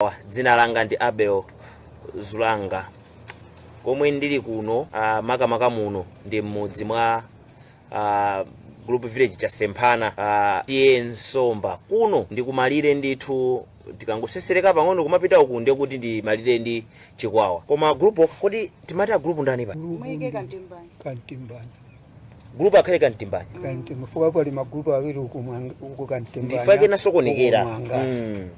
Ah, dzina langa ndi Abel Zulanga komwe ndili kuno ah, makamaka muno ndi m'mudzi mwa ah, group village Chasemphana ah, T/A Somba kuno ndi kumalire ndithu tikangosesereka pang'ono kumapita uku ndiye kuti ndi malire ndi Chikwawa koma group kodi timati a group ndani paja muyike kantimbani kantimbani gulupu akhale kantimbani kantimba chifukwa pali magulupu awiri uku mwanga- uku kantimbani ndichifukwa chake nasokonekera uku mwanga. Mm.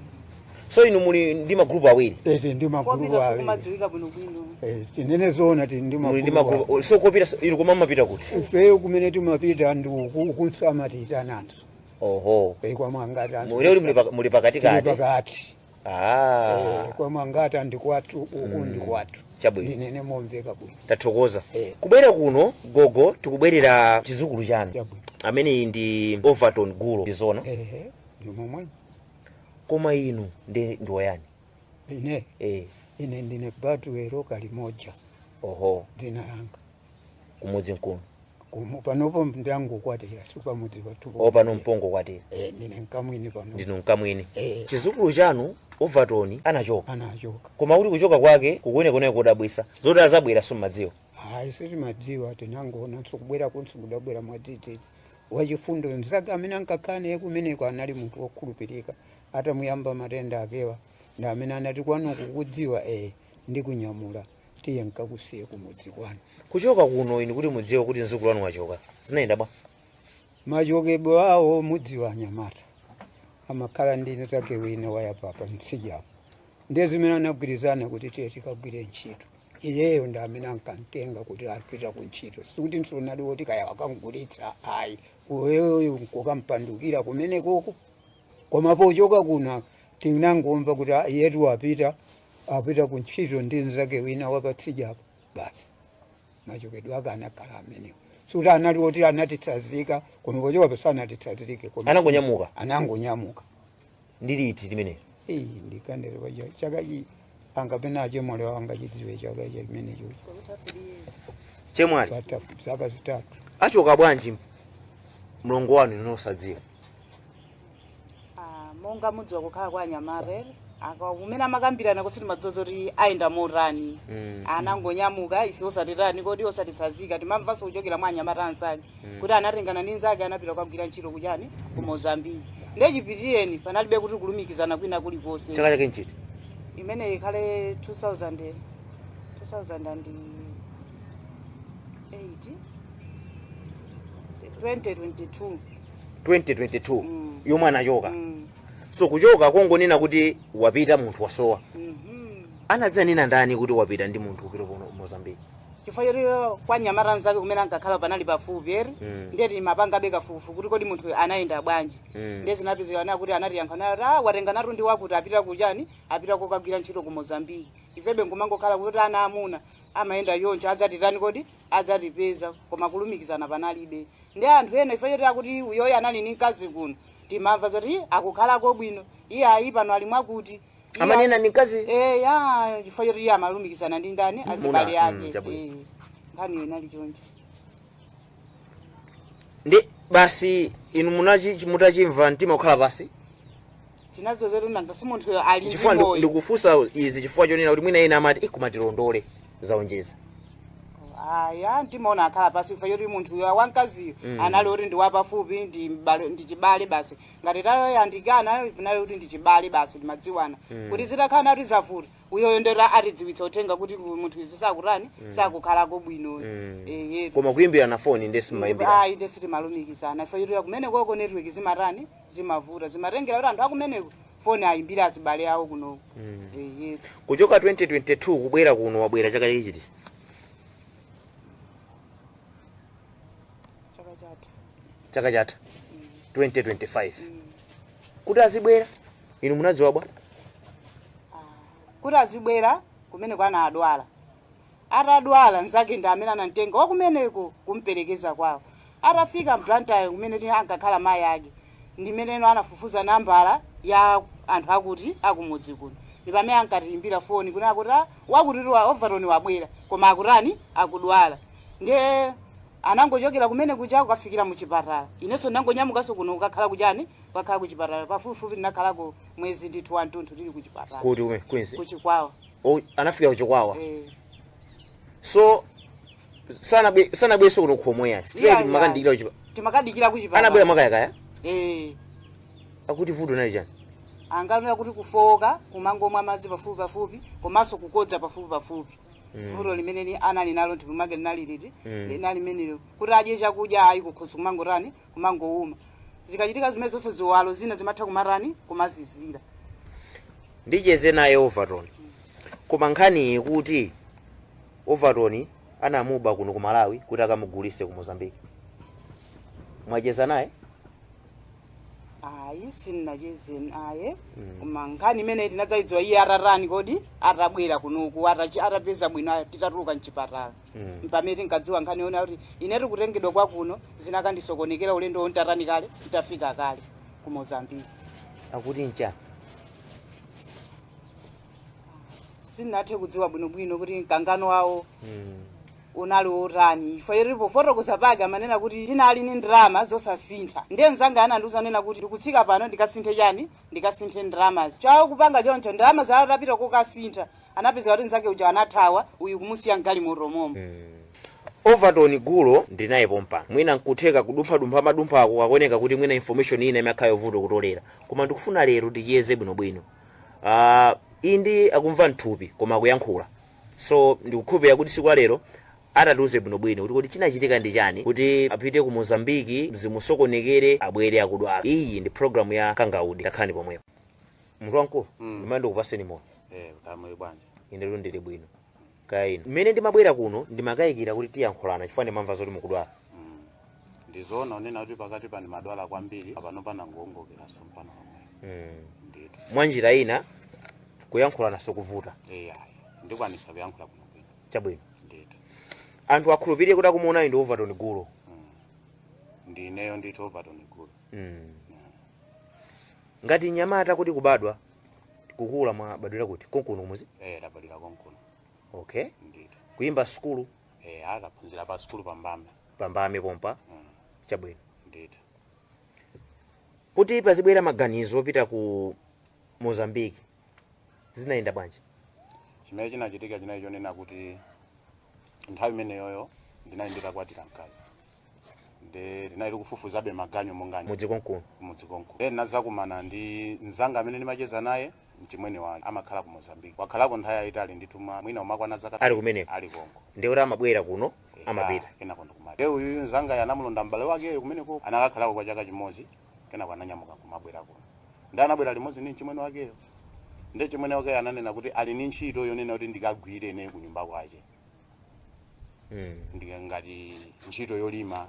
so inu muli ndi magulupu awiri ete ndi magulupu kopita kuwiri sikumadziwika bwinobwino Eh, tinene zoona tili ndi muli ndi magulupu magulupu so kopita inu koma mumapita kuti ifeyo kumene timapita ndi uku ukunso amatiitananso oho e kwa mwanga ti muli muli paka- muli pakati kati pakati ah. eh, koma ngati ndikwathu uku mm. ndikwathu chabwino tinene momveka bwino tathokoza eh. kubwera kuno gogo tikubwerera chizukulu chanu chabwino amene ndi overton gulo ndizona eh, eh. ndimomwe koma inu ndi ndiwo yani ine eh. ine ndine batuwero kalimoja oho dzina langa kumudzi mkuno Kumu- panopo ndangokwatira sipamudzi pathu pano pano m'pongokwatira Eh, ndine mkamwini pano ndinu mkamwini Eh. chizukulu chanu overton anachoka anachoka koma akuti kuchoka kwake kukuoneka kodabwisa zoti adzabwera simumadziwa ayi sitimadziwa tinangoona kubwera kunso kudabwera mwadzidzidzi wachifundo mzake amene ankakhala naye kumeneko anali munthu wokhulupirika atamuyamba matenda akewa ndi amene anati kwanu ukukudziwa ee n'kumunyamula tiye nkakusiye kumudzi kwanu kuchoka kuno inu kuti mudziwe kuti mzukulu wanu wachoka zinayenda bwanji machokedwe awo mudziwa anyamata amakhala ndi mnzake wina wayapa pamtsidyapo ndiye zimene anagwirizana kuti tiye tikagwire ntchito iyeyo ndi amene ankamtenga kuti apita ku ntchito sikuti munthu anali woti kaya akamgulitsa ayi iyeyo nkukampandukira kumenekoko koma pochoka kuno tinangomva kuti "Ah, iyetu apita apita ku ntchito ndi mnzake wina wapatsidyapo basi machokedwe ake anakhala amenewo sikuti anali oti anatitsazika koma pochoka paja sanatitsazike koma Anangonyamuka? anangonyamuka ndi liti limeneli Iii, ndikanene paja chaka chi a kapena achemwali awo angachidziwe chaka icho chimenecho chemwali patha zaka zitatu achoka bwanji mlongo wanu inu osadziwa Ah, monga mudziwa kukhala kwa anyamata kumene amakambirana usiku madzulo kuti ayenda motani Mm. anangonyamuka ife osatiitana kodi osatitsazika timamvanso kuchokera mwa anyamata anzake kuti anatengana ndi nzake anapita kukagwira ntchito kuchani ku mozambiki nde chipitireni panalibe kuti kulumikizana kwina kulikonse chaka chake nchiti imeneyi ikhale 2000 2008 2022 2022 Mm. yomwe anachoka Mm, so kuchoka kongonena kuti wapita munthu wasowa mhm. anadzanena ndani kuti wapita ndi munthu kupita ku mozambiki chifukwa choti kwa mnyamata nzake kumene ankakhala panali pafupi eti Mm. ndiye timapangabe kafukufuku kuti kodi munthu anayenda bwanji Mm. ndiye zinapezeka zoti kuti anatiyankha nati ah watenganatu ndi wakuti apita kuchani apita kukagwira ntchito ku mozambiki ifebe nkumangokhala kuti ana amuna amayenda choncho adzatitani adza adzatipeza koma kulumikizana panalibe ndi anthu ena chifukwa choti akuti uyoyo anali ni mkazi kuno timamva zoti "Ih, akukhalako bwino iye ayi pano ali mwakuti amanena ndi mkaziyo Eh, ya chifukwa choti iye amalumikizana ndi ndani Ndi azibale, mm, ake chabwino. Eh, nkhani inali choncho ndi basi inu munachi chi- mutachimva mtima kukhala pansi chifukwa choti nanga si munthu ali ndi chifukwa ndi- moyo ndikufunsa izi chifukwa chonena kuti mwina ena amati ikumatilondole zaonjeza aya ndimaona wakhala pansi chifukwa choti munthu uyo wamkaziyo anali oti ndi wapafupi ndi m'bale- ndi chibale basi ngati tinayandikana panali kuti ndi chibale basi timadziwana kuti zitakhala kuti zavuta uyoyo nde atidziwitsa uthenga kuti ku- munthu izi sakutani sakukhalako bwino ehe koma kuyimbirana foni nde sitimayimbirana ayi nde sitimalumikizana ife eti kumenekoko network zimatani zimavuta zimatengera kuti anthu akumeneko foni ayimbira azibale awo kunoko ehe kuchoka 2022 kubwera kuno wabwera chaka chiti chaka chatha chaka chatha 2025 kuti azibwera inu munadziwa bwanji kuti azibwera kumeneko anadwala atadwala nzake ndi amene anamtenga wakumeneko kumperekeza kwawo atafika m'Blantyre kumene ti- ankakhala mayi ake ndi mmeneno anafufuza nambala ya anthu akuti akumudzi kuno ndi pamene ankatiimbira foni kuti akuti "Ah, wakutitu Overton wabwera koma akutani akudwala ndiye Anangochokera kumene kuja kukafikira mu chipatala. Inenso ndinangonyamukanso kuno kukakhala ku chani, kukakhala ku chipatala. Pafupifupi ndinakhalako mwezi ndithu wantunthu ndili ku chipatala, Kuti ku Queens. ku Chikwawa. Oh, anafika ku Chikwawa. Eh. So sanabwe sanabwerenso kuno kumene ayi. Straight Yeah, anakafikira yeah. kuchipa. Anakafikira ku chipatala. Anabwera makayakaya. Eh. Akuti vuto linali chani. Ankanena kuti kufowoka, kumangomwa madzi pafupi pafupi, komanso kukodza pafupi pafupi. Mm. vuto limene ni- anali nalo nthupi mwake linali liti Mm. linali limenelo kuti adye chakudya ayi kukhosi kumangotani kumangowuma zikachitika zimenezo nde ziwalo zina zimatha kumatani kumazizira ndicheze naye overton koma nkhani ili kuti overton anamuba kuno ku malawi kuti akamugulise ku mozambique mwacheza naye ayi sinnacheze naye koma nkhani imeneyi tinadzaidziwa iye atatani kodi atabwera kunoku atachi- atapeza bwino aya- titatuluka mchipatala Mm. mpamene tinkadziwa nkhani yonena kuti inetu kutengedwa kwakuno zinakandisokonekera ulendo wontatani kale nditafika kale ku mozambiki akuti ncha sinnathe kudziwa bwinobwino kuti mkangano wawo Mm. unali wotani chifukwa choti pofotokoza pake amanena kuti ndinali ndi ndalama zosasintha ndiye mnzanga anandiuza kunena kuti ndikutsika pano ndikasinthe chani ndikasinthe ndalamazi chokupanga choncho ndalama zija atapita kokasintha anapeza kuti mnzake uja anathawa uyu kumusiya mgalimoto momo overton gulo ndinaye pompa mwina nkutheka kudumphadumpha madumpha ako zikuoneka kuti mwina information ina imakhala yovuta kutolera koma ndikufuna lero ticheze bwinobwino uh, inde akumva mthupi koma akuyankhula So ndikukhulupirira kuti tsiku la lero atatiuze bwinobwino kuti kodi chinachitika ndi chani kuti apite ku Mozambique zimusokonekere abwere akudwala. Iyi ndi program ya Kangaude takhalani pomwepo. Munthu wamkulu Mm. ndime ndikupatseni moni Eh, kamwe bwana. ine lero ndili bwino. Kaya inu. Mmene ndimabwera kuno ndimakayikira kuti tiyankhulana chifukwa ndimamva zoti mukudwala. Mm. ndizoona kunena kuti pakati pano ndimadwala kwambiri apano panangoongokerapo pang'ono pabe ndithu mwa njira ina kuyankhulana sikuvuta ai ndikwanisa kuyankhula bwinobwino chabwino ndithu anthu akhulupirire kuti akumuonayu ndi overton gulo ndineyo ndithu overton gulo ngati mnyamata kuti kubadwa kukula mwabadwira kuti konkuno kumudzi eh ndabadira konkuno okay ndithu kuphunzira sukulu eh ndinkaphunzira pa sukulu pa Mbame pa Mbame pompa Mm, chabwino ndithu kuti pazibwera maganizo opita ku mozambiki zinayenda bwanji chimene chinachitika chinali chonena kuti nthawi imeneyoyo ndinali nditakwatira mkazi nde ndinali ndikufufuzabe maganyu monga mudzi konkuno mudzi konko then ndinadzakumana ndi mzanga amene ndimacheza naye mchimwene wake amakhala ku mozambique wakhalako nthawi yayitali ndithu mwa- mwina kumakwana zaka Ali kumeneko? ali konko ndiye kuti amabwera kuno amapita kenako ndiye kuti iyeyo uyu mzanga anamulondola m'bale wakeyo kumeneko anakakhalako kwa chaka chimodzi kenako ananyamuka kumabwera kuno nde anabwera limodzi ndi mchimwene wakeyo ndi mchimwene wakeyo ananena kuti ali ndi ntchito yonena kuti ndikagwire ine kunyumba kwache mm. ndi ngati ntchito yolima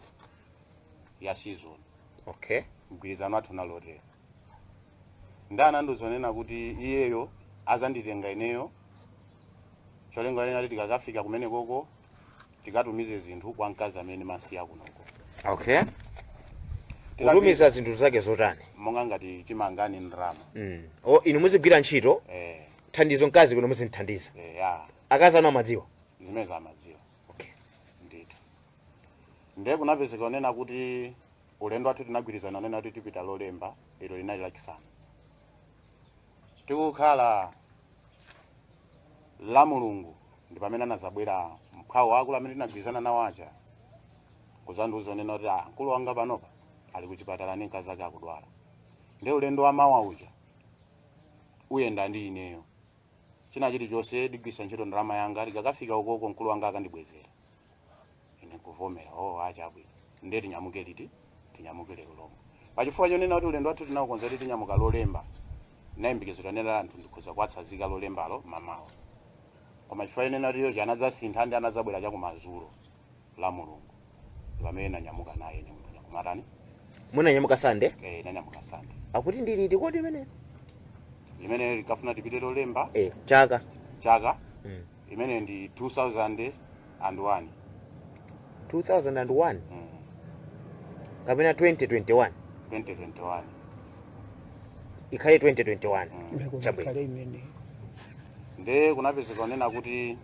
ya season okay mgwirizano wathu unali otere ndinso ndizonena kuti iyeyo azanditenga ineyo cholinga chonena kuti tikakafika kumene koko tikatumize zinthu kwa mkazi amene ndamusiya kunoko okay Tikapita- kutumiza zinthu zake zotani monga ngati chimanga ndi ndalama mm. o inu muzigwira ntchito eh, thandizo mkazi kuno muzimthandiza eh, ya akazi anu amadziwa zimenezo amadziwa okay. ndithu ndiye kunapezeka zonena kuti ulendo wathu tinagwirizana zonena kuti tipita lolemba ilo linali lachisanu tikukhala la mulungu ndi pamene anadzabwera mphwawo wa akulu amene tinagwirizana nawo aja kuzandiuza zonena kuti "Ah, mkulu wanga panopa ali kuchipatala ndi mkazi wake akudwala ndiye ulendo wa mawa uja uyenda ndi ineyo china chilichonse ndigwiritsa ntchito ndalama yanga ndikakafika ukoko mkulu wanga akandibwezera ine kuvomera ah chabwino ndiye tinyamuke liti tinyamuke lero lomwe pachifukwa chonena kuti ulendo wathu tinaukonza kuti tinyamuka lolemba ndimayembekezera kunena anthu ndikhoza kuwatsazika lolembalo mamawa koma chifukwa chonena kuti yochi anadzasintha ndi anadzabwera chakumadzulo la mulungu pamene nanyamuka naye ine munthu ndikumatani munanyamuka sande eh, nanyamuka sande akuti ndi liti kodi imene limene likafuna tipite lolemba eh, chaka chaka mm. imene ndi 2001 2001 mm. kapena 2021 2021 ikhale 2021 Mm. chabwino kale imene nde kunapezeka zonena kuti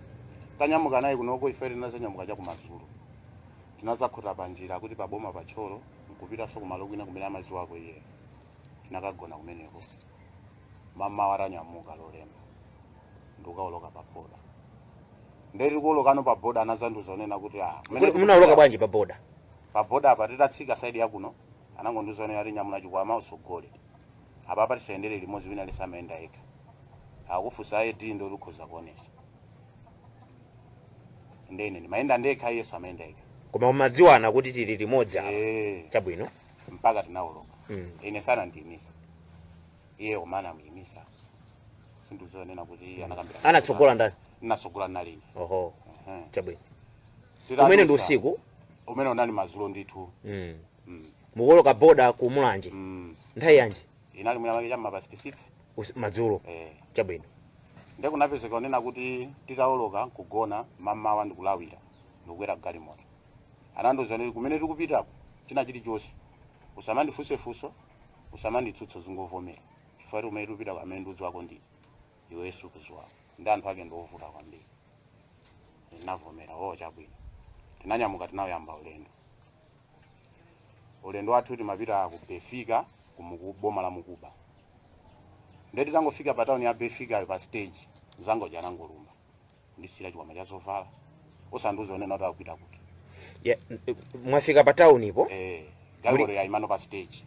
tanyamuka naye kunoko ife tinazanyamuka chakumadzulo tinazakhota panjira kuti paboma pa Thyolo nkupitanso kumalo kwina kumene amadziwako iye tinakagona kumeneko mamawa tanyamuka lolemba ndikukaoloka pa boda ndeti kuolokano pa boda anazandiuza zonena kuti ah, kumene Kuti munaoloka tikupita- bwanji pa boda pa boda apa titatsika saidi yakuno anangondiuza zonena kuti nyamula chikwama utsogole apapa tisayendere limodzi wina aliyense amayenda yekha akakufunsa ID ndiye ukhoza kuonesa ndene ndimayenda ndekha iyenso amayenda yekha koma mumadziwana kuti tili limodzi apa Eh, chabwino mpaka tinawoloka Mm. ine sanandiyimise iye umana amuyimisa sindizonena kuti iye anakambira anatsogola ndani natsogola anali ine oho chabwino umene ndi usiku umene unali madzulo ndithu mm. mm. mukuwoloka boda ku mulanje mm. nthawi yanji inali mwina make cha m'ma past 6 Usi- madzulo eh. chabwino nde kunapezeka kunena kuti titawoloka nkugona m'mamawa ndikulawira ndikukwera galimoto anandiuza kuti kumene tikupitako china chilichonse usamandifunse funso usamanditsutse zingovomera chifukwa kuti kumene tikupitako amene ndudziwako ndine iwe sukudziwako ndi anthu ake ndiovuta kwambiri ndinavomera o chabwino tinanyamuka tinawuyamba ulendo ulendo wathu timapita ku Befika ku muku, boma la Mukuba ndiye titangofika pa tauni ya Befika pa stage anzanga aja anangolumpha ndikundisiyira chikwama cha zovala osandiuza kunena kuti akupita kuti Ya, eh, mwafika pa town po eh, galimoto yaimano pa stage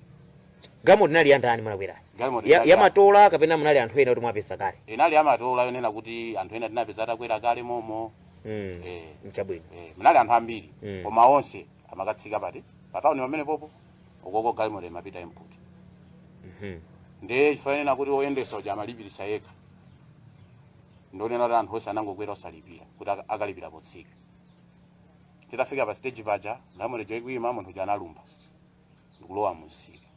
galimoto inali ya ndani munakwera Galimoto ya, inali ya ya- matola kapena munali anthu ena kuti mwapeza kale inali amatola yonena kuti anthu ena tinapeza atakwera kale momo Mm. Eh. Chabwino. Eh, munali anthu ambiri Mm. koma onse amakatsika pati pa tawuni pamene pompo ukoko galimoto imapita mpakuti Mhm. ndiye chifukwa chonena kuti oyendesa uja amalipirisa yekha ndionena kuti anthu onse anangokwera osalipira kuti aka- akalipira potsika titafika pa stage paja galimoto ija ikuyima munthu uja analumpha ndikulowa munsika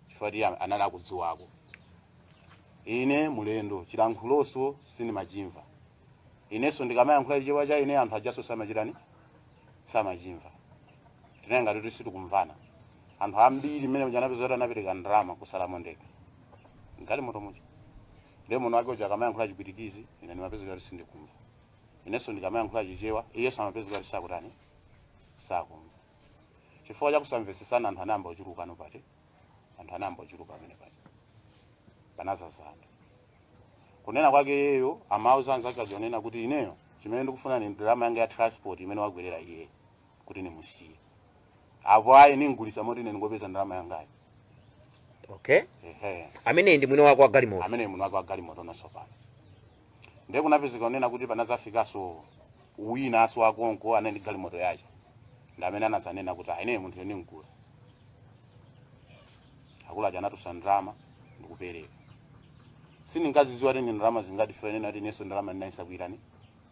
chifukwa iye anali akudziwako ine mlendo chilankhuloso sindimachimva inenso ndikamayankhula chichewa cha ine anthu ajaso samachitani samachimva tinali ngati kuti sitikumvana anthu ambiri mmene uja anapeza kuti anapereka ndalama kutsalamo ndekha m'galimoto muja ndiye mwini wake uja akamayankhula chipwitikizi ine ndimapeza kuti sindikumva inenso ndikamayankhula chichewa iyenso amapeza kuti sakutani sakumva chifukwa cha kusamvetsesana anthu anayamba kuchulukano pati anthu anayamba kuchuluka amene pati panazazana kunena kwake iyeyo amauza anzake aja kunena kuti ineyo chimene ndikufuna ni ndalama yanga ya transport imene wakwerera iye kuti nimusiye apo ayi ningulisa moti ine ndingopeza ndalama yangayo okay ehe ameneyi ndi mwini wako wa galimoto amene munthu wake wagalimoto nasopano ndiye kunapezeka unena kuti panadzafikaso wina aso akonko anali ndi galimoto yace ndi amene anadzanena kuti ai ine munthuyo nimgula akulu aja anatulutsa ndalama ndikupereka sindinkaziziwa kuti ndi ndalama zingati chifukwa choti ineso ndalama ndinali ndisakuitani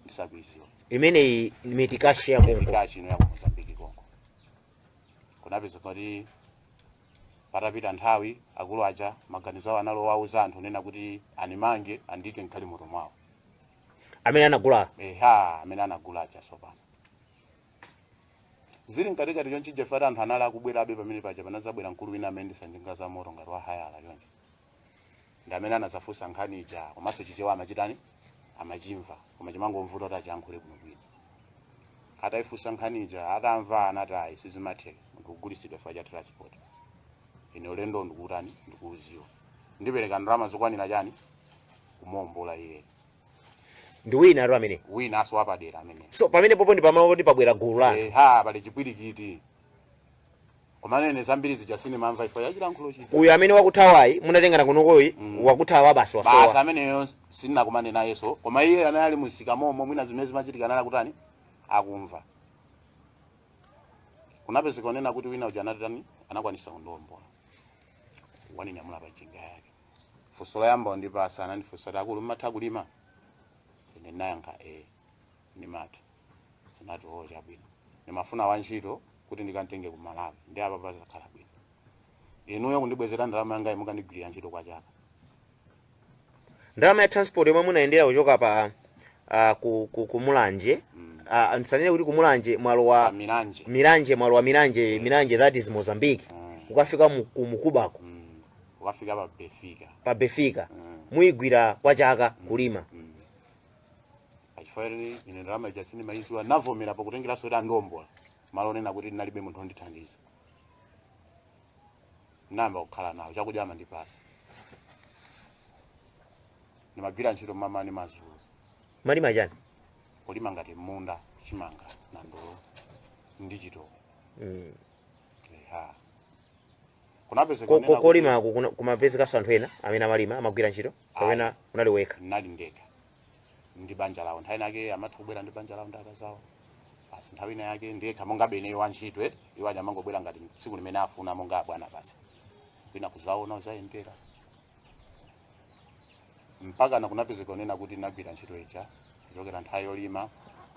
ndisakuiziwa imeneyi mitikashi ya konko mitikashi ino ya ku mozambiki konko kunapeza kuti patapita nthawi akulu aja maganizo awo anali owauza anthu kunena kuti animange andike m'galimoto mwawo amene anagula eha amene anagula aja sopano Zili mkatikati chonchi chija fact anthu anali akubwerabe pamene paja panadzabwera mkulu wina amene ndi za njinga za moto ngati wa hayala chonchi. Ndi amene anadzafunsa nkhani ija komanso chichewa amachitani amachimva koma chimangomvuta kuti achiyankhule bwinobwino. Ataifunsa nkhani ija atamva anati ayi sizimatheka munthu kugulitsidwa chifukwa cha transport. Ine ulendo ndikuutani ndikuudziwa. Ndipereka ndalama zokwanira chani kumuombola iyeyo. ndi wina atu amene winanso wapadera amene so pamenepopo ndi pamalo kuti pabwera gulu la anthu eha pali chipwirikiti komanene zambiri zija sindimamva chifukwa cha chilankhulo chija uyu amene wakuthawayu munatengana kunokoyu wakuthawa basi basi wasowa ameneyo sindinakumane nayenso koma iye amene ali mumsika momo mwina zimene zimachitika nali kutani akumva kunapezeka onena kuti wina uja anatani anakwanisa kundiombola waninyamula pa njinga yake funso loyamba kundipatsa anandifunsa kuti akulu mmatha kulima ine ndinayankha e ndimatha anati o chabwino ndimafuna wantchito kuti ndikamutenge ku malawi ndiye apa padzakhala bwino inuyo kundibwezera ndalama yanga mukandigwirira ntchito kwa chaka ndalama ya transport yomwe munayendera kuchoka pa ah, ku, ku, ku mulanje Ah, ndisanene kuti ku mulanje malo a pa milanje milanje malo a milanje milanje that is mozambique Mm. ukafika mu- ku mukubako ukafika pa befika pa befika Mm. muyigwira kwa chaka kulima Mm. a chifukwa ine ine ndalama ija sindimayidziwa ndinavomera pakutengeranso kuti andiombola malo onena kuti ndinalibe munthu ondithandiza ndiyamba kukhala nawo chakudya amandipatsa ndimagwira ntchito mmamawa ndi madzulo ndimalima chani kulima ngati munda chimanga nandolo ndi chitoko mm. eha kunapezeka Ko- ko- onena kuti kolima ku- kuna- kumapezekanso anthu ena amene amalima amagwira ntchito kapena munali nokha ndinali ndekha ndi banja lawo nthawi inake amatha kubwera ndi banja lawo ndi akazi awo basi nthawi ina yake ndekha monga mmene wa ntchito eh, iwo aja amangobwera ngati tsiku limene afuna monga abwana basi mwina kudzaona kudzayendera mpakana kunapezeka onena kuti ndagwira ntchito ija kuchokera nthawi yolima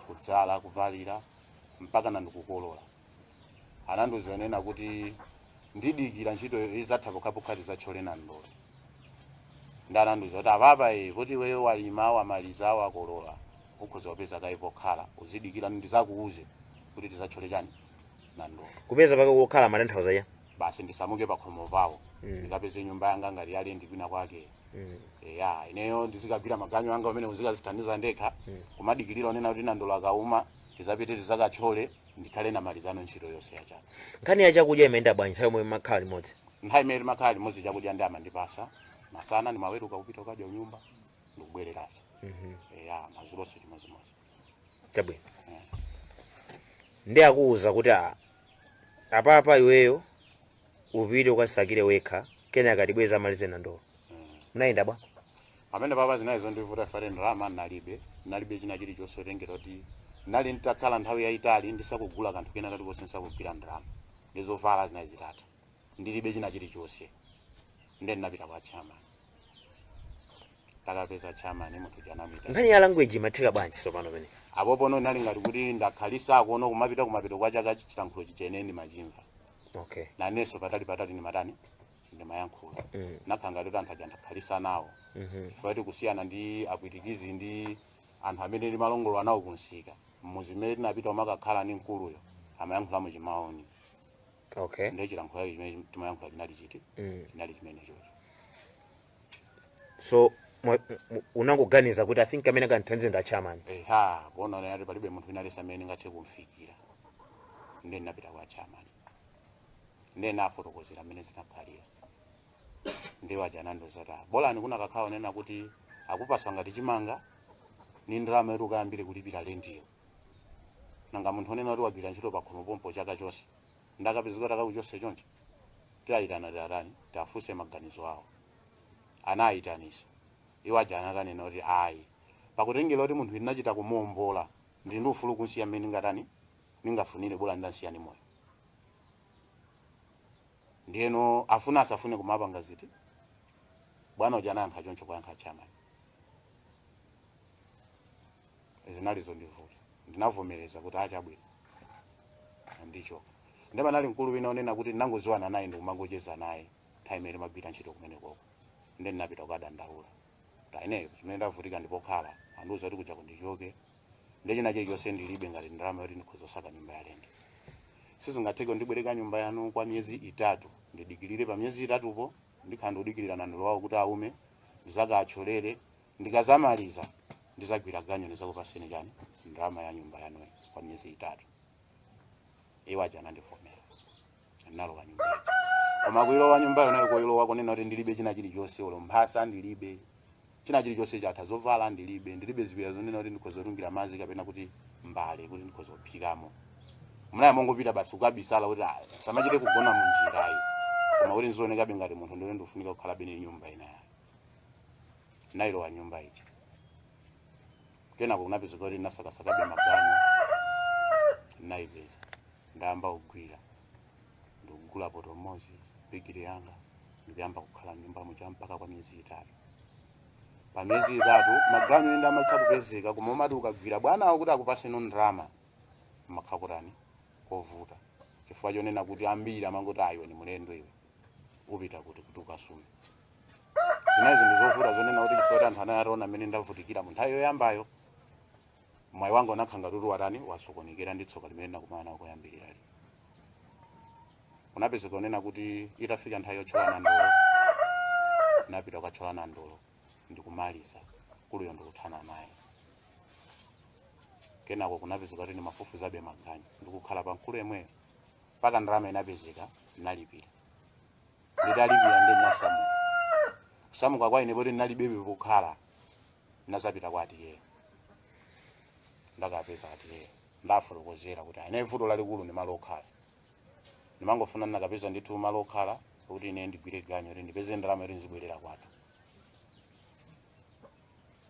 kudzala kupalira mpakana ndi kukolola anandiuza kunena kuti ndidikire ntchito idzatha pokhapokha tidzatchole nandolo ndiye anandiuza kuti apapa e kuti iweyo walima wamaliza wakolola ukhoza kupeza kaye pokhala uzidikira ndidzakuuze kuti tidzatchole chani nandolo kupeza kaye pokhala mumatanthauza ya basi ndisamuke pakhomo pawo Mm. ndikapeze nyumba yanga ngati ya lendi kwina kwake Mm. ya ineyo ndizikagwira maganyu anga amene ndizikadzithandiza ndekha kumadikirira onena kuti nandolo akauma tidzapite tidzakatchole ndikhale namalizano ntchito yonse ya chaka nkhani ya chakudya imayenda bwanji nthawi yomwe makhala limodzi nthawi imene timakhala limodzi chakudya nde amandipasa masana ndimaweruka kupita kukadya kunyumba ndikubwereranso eya mazulonso chimodzimodzi chabwino nde akuwuza kuti a- apapa iweyo upite ukasakire wekha kenaka tibweze amalize nandolo munayenda bwa amene baba zinali zondivuta chifukwa choti ndalama nalibe nalibe china chilichonse potengera kuti nali nditakhala nthawi yayitali ndisakugula kanthu kena kati konse ndisakugwira ndalama ndi zovala zinali zitatha ndilibe china chilichonse nde ndinapita kwa chairman takapeza chairman munthu janamita nkhani ya language imatheka bwanji sopano pene apo pono nali ngati kuti ndakhalisa akuona kumapita kumapita kwa chaka chilankhulo chimene ndimachimva okay nanenso patali patali ndimatani ndimayankhula Mm. nakhala ngati kuti anthu aja ndakhalisa nawo Mhm. chifukwa kuti kusiyana ndi apwitikizi ndi anthu amene timalongolola nawo kunsika mmuzi mmene tinapita umakakhala ndi mkuluyo amayankhula mu chimaoni okay ndiye chilankhulo chake chimene timayankhula chinali chiti Mm. chinali chimenechocho so mwa- m- unangoganiza kuti i think amene akandithandize ndi achairman eha kuona nati palibe munthu wina aliyense amene ndingathe kumfikira ndiye ndinapita kwa chairman ndiye nafotokozera mmene zinakhalira ndiye iwo aja anandiuza kuti "Ah, bolani kunakakhala kunena kuti akupasa ngati chimanga ni ndalama yoti ukayambire kulipira lendiyo nanga munthu onena kuti wagwira ntchito pakhomo pompo chaka chonse nde akapezeka kuti akakuchose choncho tiwayitana tiwatani tiwafunse maganizo awo anayitanisa iwo aja anakanena kuti ayi pakutengera kuti munthu ndinachita kumuombola ndili ndi ufulu kunsiya mmene ndingatani ndingafunire bola ndansiya ndi moyo ndiyeno afuna asafune kumapanga ziti bwana uja anayankha choncho kuwayankha achairman zinali zondivuta ndinavomereza kuti ah chabwino ndicho nde panali mkulu wina onena kuti ndinangoziwana naye ndikumangocheza naye nthawi imene timagwira ntchito kumenekoko nde ndinapita kukadandaula kwa iyeyo achimwene ndavutika ndi pokhala andiuza kuti kujaku ndichoke nde china chilichonse ndilibe ngati ndalama yoti ndikhoza kusaka nyumba ya lendi sizingatheke ndibwereka nyumba yanu kwa miyezi itatu ndidikirire pa miyezi itatupo ndikhala ndikudikirira nandolo wawo kuti aume ndizakawatcholere ndikazamaliza ndizagwira ganyu ndizakupaseni chani ndalama ya nyumba yanuyi kwa miyezi itatu iwo aja anandivomera ndinalowa nyumba ija koma kuilowa nyumba yonayo kuilowa kunena kuti ndilibe china chilichonse olo mphasa ndilibe china chilichonse chatha zovala ndilibe ndilibe ziwiya zonena kuti ndikhoza kutungira madzi kapena kuti mbale kuti ndikhoza kuphikamo ndinali mongopita basi kukabisala kuti "Ah, ndisamachite kugona munjirayi koma kuti nzionekabe ngati munthu ndiwe ndikufunika kukhala bene nyumba inayo nalowa nyumba ija kenako kunapezeka kuti ndinasakasakabe maganyu naipeza ndayamba kugwira ndikugula poto mmodzi bigiri yanga ndikuyamba kukhala mnyumba muja mpaka kwa miyezi itatu pa miyezi itatu maganyu ena amatha kupezeka koma umati ukagwira bwanawo kuti akupaseno ndalama kumakhala kovuta chifukwa chonena kuti ambiri amangoti ayi iwe ndi mlendo iwe upita kuti kuti ukasume zinayi zinthu zovuta zonena kuti chifukwa kuti anthu anali ataona mmene ndavutikira mu nthawi yoyambayo mwayi wanga unakhala ngati kuti watani wasokonekera ndi tsoka limene ndakumana nalo koyambirira lija kunapezeka kunena kuti itafika nthawi yotcholana ndolo napita kukatcholana ndolo ndikumaliza mkuluyo ndikuthana naye kenako kunapezeka kuti ndimafufuzabe maganyu ndikukhala pa mkulu yemweyo mpaka ndalama inapezeka ndinalipira nditalipira ndi ndinasamuka kusamuka kwa ine poti ndinalibebe pokhala ndinazapita kwa auntie-yo ndakapeza auntie-yo ndafotokozera kuti ine vuto lalikulu ndi malo okhala ndimangofuna ndinakapeza ndithu malo okhala kuti ine ndigwire ganyo kuti ndipeze ndalama yoti ndizibwerera kwathu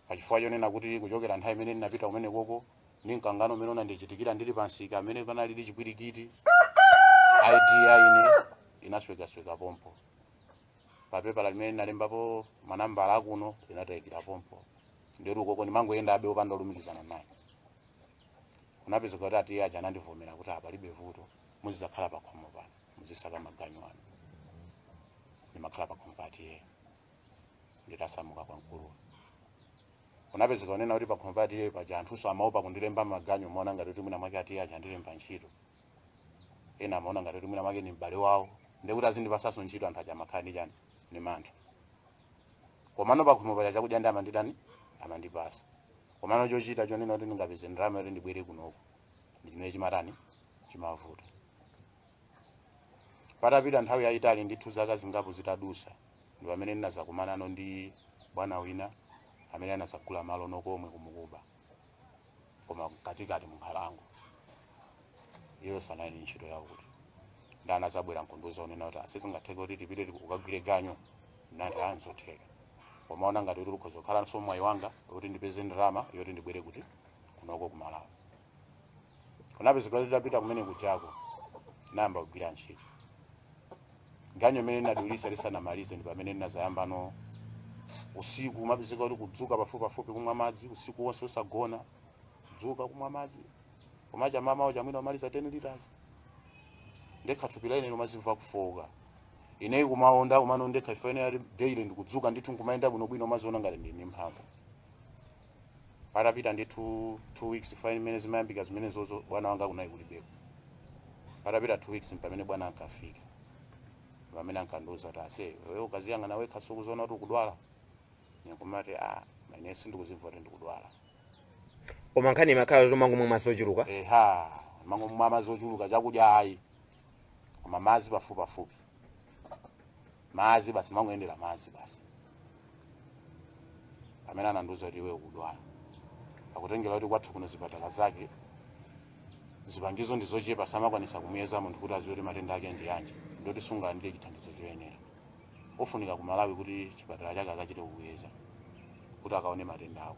pachifukwa chonena kuti kuchokera nthawi imene ndinapita kumene koko ndi mkangano umene unandichitikira ndili pa msika amene panalidi chipwirikiti id ya ine inaswekasweka pompo papepala limene linalembapo manambala akuno linatayikira pompo ndiye ukoko ndimangoyenda chabe opanda olumikizana naye kunapezeka kuti auntie aja anandivomera kuti aa palibe vuto muzizakhala pakhomo pano muzisaka maganyu anu ndimakhala pakhomo pa auntie-yo nditasamuka kwa mkuluwa kunapezeka kunena kuti pakhomo pa auntie paja anthuso amaopa kundilemba maganyu amaona ngati kuti mwina mwake auntie aja andilemba ntchito ena amaona ngati kuti mwina mwake ni m'bale wawo ndikuti azindipasaso ntchito anthu aja amakhala ndi chani ni mantha komano pakhomo paja chakudya ndiye amanditani amandipasa komano chochita chonena kuti ndingapeze ndalama yoti ndibwere kunoko ndi chimene chimatani chimavuta patapita nthawi yayitali ndithu zaka zingapo zitadusa ndi pamene ndinazakumanano ndi bwana wina amene anazagula malo komwe ku Mocuba koma katikati munkhalango iwonso anali ndi ntchito yawo kuti ndi anazabwera nkundiuza kunena kuti aa sizingatheke kuti tipite tiku- ukagwire ganyo nati aa nzotheka kumaona ngati kuti ukhoza kukhalanso mwayi wanga kuti ndipeze ndalama yoti ndibwere kuti kunoko kumalawi kunapezeka kuti tapita kumene kujako nayamba kugwira ntchito ganyo imene ndinadulisa lisanamalize ndi pamene ndinazayambano usiku umapezeka kuti kudzuka pafupi pafupi kumwa madzi usiku wonse usagona kudzuka kumwa madzi umacha mamawo kaya mwina umaliza 10 liters ndekha thupi lake losazimva kufowoka ineyo kumaonda kumano ndekha ife ine daily ndikudzuka ndithu nkumayenda bwinobwino umaziona ngati ndili ndi mphamvu patapita ndithu two weeks chifukwa imene zimayambika zimenezozo bwana wanga kunali kulibeko patapita two weeks mpamene bwana ankafika pamene ankandiuza kuti ase iwe ukaziyang'ana wekha sukuziona kuti ukudwala nikumati a ine sindikuzimva kuti ndikudwala koma nkhani imakhala yomangomwa madzi ochuluka eha kumangomwa madzi ochuluka zakudya ayi koma madzi pafupipafupi madzi basi mangoyendera madzi basi pamene anandiuza kuti iwe ukudwala kutengera kuti kwathu kuno zipatala zake zipangizo ndi zochepa samakwanisa kumuyeza munthu kuti aziwe kuti matenda ake ndi yanji nde kuti sungalandire chithandizo choyenera ufunika ku malawi kuti chipatala chake akachite kukuyeza kuti akaone matenda ako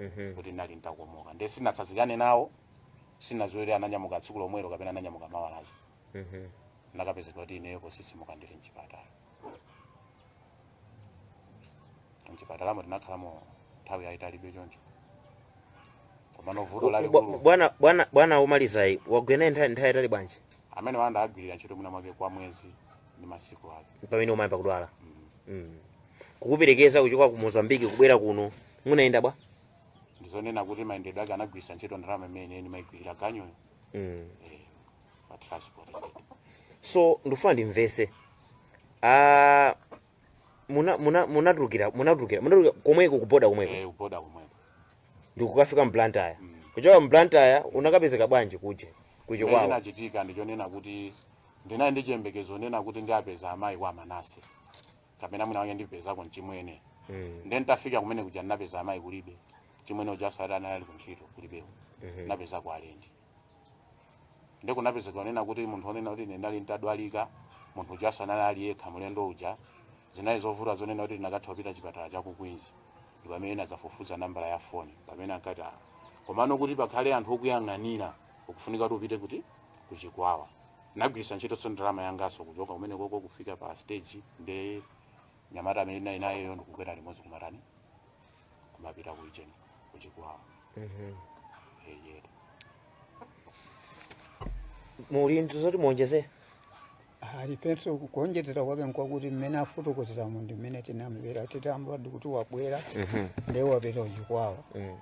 Mhm. kuti ndinali nditakomoka ndiye sinatsazikane nawo sinaziwe ananyamuka tsiku lomwelo kapena ananyamuka mawa lake Mhm. ndinakapezeka kuti ineyo posisimuka ndili mchipatala mchipatalamo tinakhalamo nthawi yayitalibe choncho komano vuto Bwa- lalikulu bwana bwana bwana omalizayi wagwira naye nthawi nthawi yaitali bwanji amene wawagwirira ntchito mwina mwake kwa mwezi ndi masiku ake pamene umayamba kudwala mm. kukuperekeza kuchoka ku mozambiki kubwera kuno munayenda bwa ndizonena kuti mayendedwe ake anagwiritsa ntchito ndalama imene ndimagwirira ganyoyo mm. eh, pa transport so ndifuna ndimvese Ah, muna- muna- munatulukira munatulukira munatulukira komweko kuboda komweko eh, kuboda komweko ndikukafika mblantyre kuchoka mblantyre unakapezeka bwanji kuje kuche kwawo chinachitika ndichonena kuti ndinali ndi chiyembekezo kunena kuti ndiapeza amayi kwa manase kapena mwina mwake ndipezako mchimwene mm. nde nditafika kumene kuja ndinapeza amayi kulibe chimwene ujaso ati anali kuntchito kulibeko Mhm. ndinapezako alendo nde kunapezeka kunena kuti munthu onena kuti ine ndali ntadwalika munthu ujaso anali ali yekha mlendo uja zinali zovuta zonena kuti ndikanatha kupita chipatala cha kukwinji ndi pamene ndinadzafufuza nambala ya foni pamene ankati "Ah, komano kuti pakhale anthu okuyang'anira ukufunika kuti upite kuti kuchikwawa nagwiritsa ntchitoso ndalama yangaso kuchoka kumene koko kufika pa stage ndi mnyamata amene ndinali nayeyo ndikukwera limodzi kumatani kumapita kuicheni kuchikwawa Mhm. eya muli ndi zoti muonjezere aliponso kuonjezera kwake nkwakuti mmene afotokozeramo ndi mmene tinamvera titamva kuti wabwera Mhm. nde wapita kuchikwawa Mhm.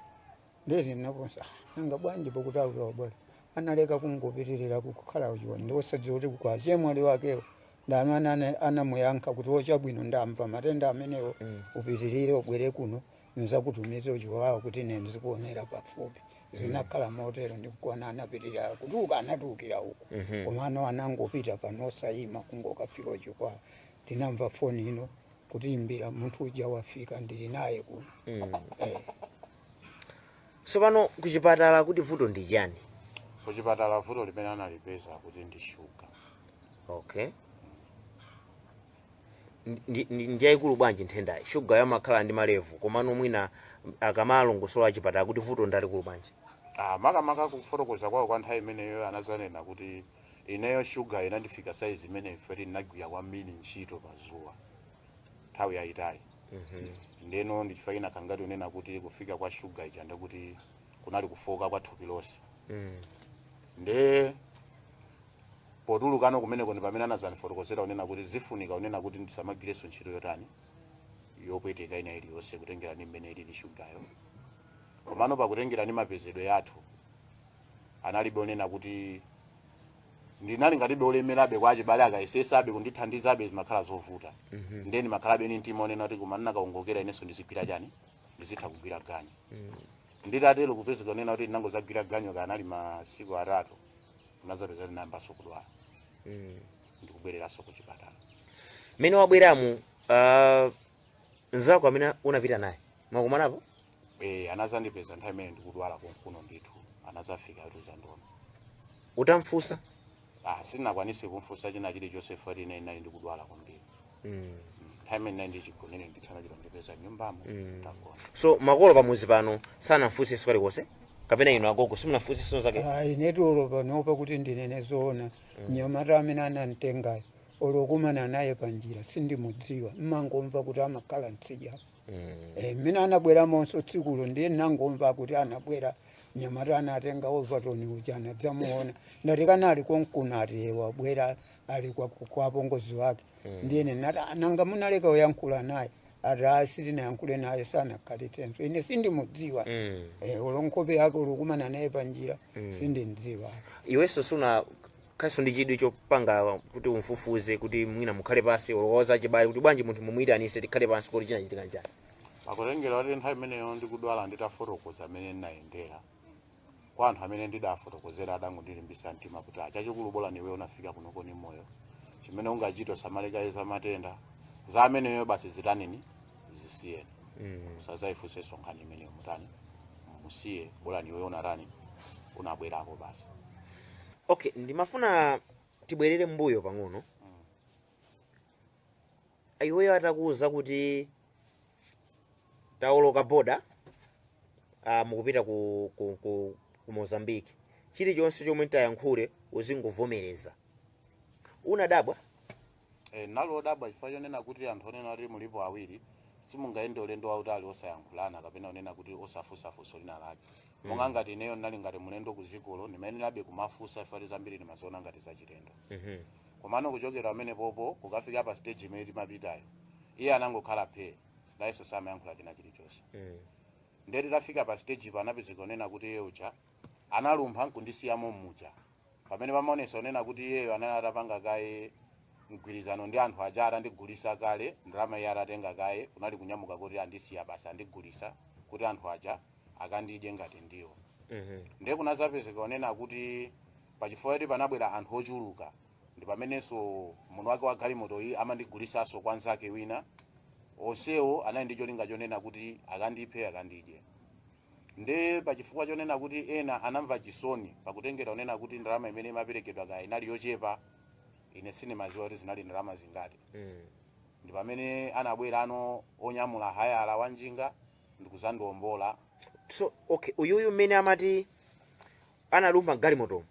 ndiri nakonsa nanga bwanji pakuti alowa bwanji analeka kungopitirira kukhala uchiwa ndi osadziwa kuti kwa chemwali wakewo ndi amene ana- anamuyankha kuti ochabwino ndamva matenda amenewo upitirire ubwere kuno nzakutumiza uchiwawo kuti ine ndizikuonera pafupi zinakhala motero ndikuona anapitirira kuti uka anatulukira uko koma ano anangopita pano osayima kungokafika uchiwawo tinamva foni ino kuti imbira munthu uja wafika ndili naye kuno Eh. Tsopano kuchipatala kuti vuto ndi chani? Kuchipatala vuto limene analipeza kuti ndi shuga. Okay. Ndi, ndi, ndi yaikulu bwanji nthendayi? Shuga yamakhala ndi malevu komano mwina akamalongosola achipatala kuti vuto ndi lalikulu bwanji? Ah, makamaka kufotokoza kwawo kwa nthawi imeneyo anazanena kuti ineyo shugayo inandifika saizi imene ife tinagwira kwambiri ntchito pa dzuwa. nthawi yayitali ndeno ndichifukwa china ngati kunena kuti kufika kwa shuga ija ndekuti kunali kufoka kwa thupi lonse nde potulukano kumeneko ndi pamene anazanifotokozera kunena kuti zifunika kunena kuti ndisamagireso ntchito yotani yopweteka ina iliyonse kutengera ndi mmene ilili shugayo komano pakutengera ndi mapezedwe yathu nalibe kunena kuti ndinali ngatibe kulemerabe kwa achibale akayesesabe kundithandizabe zimakhala zovuta ndiye ndimakhalabe ni mtima onena kuti koma ndinakaongoka inenso ndizigwira chani ndizitha kugwira ganyu nditatero kupezeka onena kuti ndinangozagwira ganyu kanali masiku atatu ndinazapeza ndinayambanso kudwala ndikubwereranso ku chipatala mmene wabweramu uh, nzako amene unapita naye mwakumanapo Eh, anazandipeza nthawi imene ndikudwala konkuno ndithu anazafika atuza ndona utamfusa ah, sitinakwanise kumfusa china chilichonse fati ine ndinali ndikudwala kwambiri mm. nthawi imene ndinali chigonere ndithu anachita ndipeza nyumbamo mm. tagona so makolo pamuzi pano sanamfunsenso kalikonse kapena inu agogo simunafunsenso zake ayi ndetu olo panopa kuti ndinene zoona mnyamata amene anamtengayo olo kukumana naye panjira sindimudziwa mmangomva kuti amakhala mtsidya Eh, mmene anabweramonso tsikulo ndiye ndinangomva kuti anabwera mnyamata anatenga Ovatoni uja anadzamuona ndati kanali konkuna ati "Ye, wabwera ali kwa- kwa apongozi wake ndiye ndinati "Ah, nanga munaleka kuyankhula naye ati "Ah, sitinayankhule naye sanakhalitsenso ine sindimudziwa Mm. Eh, olo nkhope yake olo kukumana naye panjira sindimdziwa iwenso suna Khalinso ndi chidwi chopanga kuti umfufuze kuti mwina mukhale pansi olo kuwauza achibale kuti bwanji munthu mumuyitanise tikhale pansi kuti chinachitika nchani kutengera kuti nthawi imeneyo ndikudwala nditafotokoza amene ndinayendera kwa anthu amene ndidafotokozera adangondilimbisa mtima kuti ah chachikulu bola iwe unafika kunoko ni moyo chimene ungachita usamale kaye za matenda za ameneyo basi zitanini zisiyeni mm. sazayifunsenso nkhani imeneyo mutani musiye bolani iwe utatani unabwerako basi okay ndimafuna tibwerere mbuyo pang'ono iweyo atakuwuza kuti tawoloka boda uh, mukupita ku, ku, ku, ku mozambique chilichonse chomwe ndiyankhule uzingovomereza unadabwa Eh, Ndinali wodabwa chifukwa chonena kuti anthu wonena kuti mulipo awiri simungayende ulendo wautali osayankhulana kapena onena kuti osafunsa funso lina lake monga ngati ineyo ndinali ngati mlendo ku dzikolo ndimayenerabe kumafunsa chifukwa kuti zambiri ndimaziona ngati zachilendo komano kuchokera pamene paja kukafika pa stage imene timapitayo iye anangokhala phee nayenso samayankhula china chilichonse ndiye titafika pa stage ija anapezeka onena kuti iye uja analumpha nkundisiya mommuja pamene pamaonesa wonena kuti iyeyo anali atapanga kaye mgwirizano ndi anthu aja atandigulisa kale ndalama iye atatenga kale kunali kunyamuka kuti wandisiya basi wandigulisa kuti anthu aja akandidye ngati ndiwo ndiye kunazapezeka kunena kuti pachifukwa kuti panabwera anthu ochuluka ndi pamenenso munthu wake wa galimoto iyi amandigulisanso kwa nzake wina onsewo anali ndi cholinga chonena kuti akandiphe akandidye nde pachifukwa chonena kuti ena anamva chisoni pakutengera kunena kuti ndalama imene imaperekedwa kaya inali yochepa ine sindimaziwa kuti zinali ndalama zingati ndi pamene anabwera anthu onyamula hayala wa njinga ndikuzandiombola so okay uyuyo mmene amati analumpha galimotomo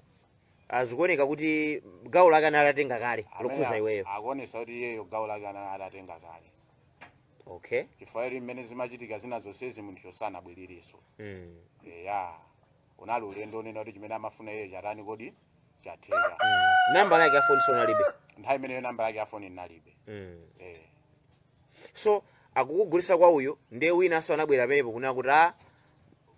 zikuoneka kuti gawo lake anali atatenga kale lokhuza iweyo zikuonesa kuti iyeyo gawo lake anali atatenga kale okay chifukwa choti mmene zimachitika zina zonsezi munthuyo sanabwererenso mm. eya unali ulendo wonena kuti chimene amafuna iye chatani kodi, chatheka nambala yake ya foni unalibe nthawi imeneyo namba yake ya foni ndinalibe mm. eh. so akukugulisa kwa uyu ndiye winanso anabwera pamenepo kunena kuti a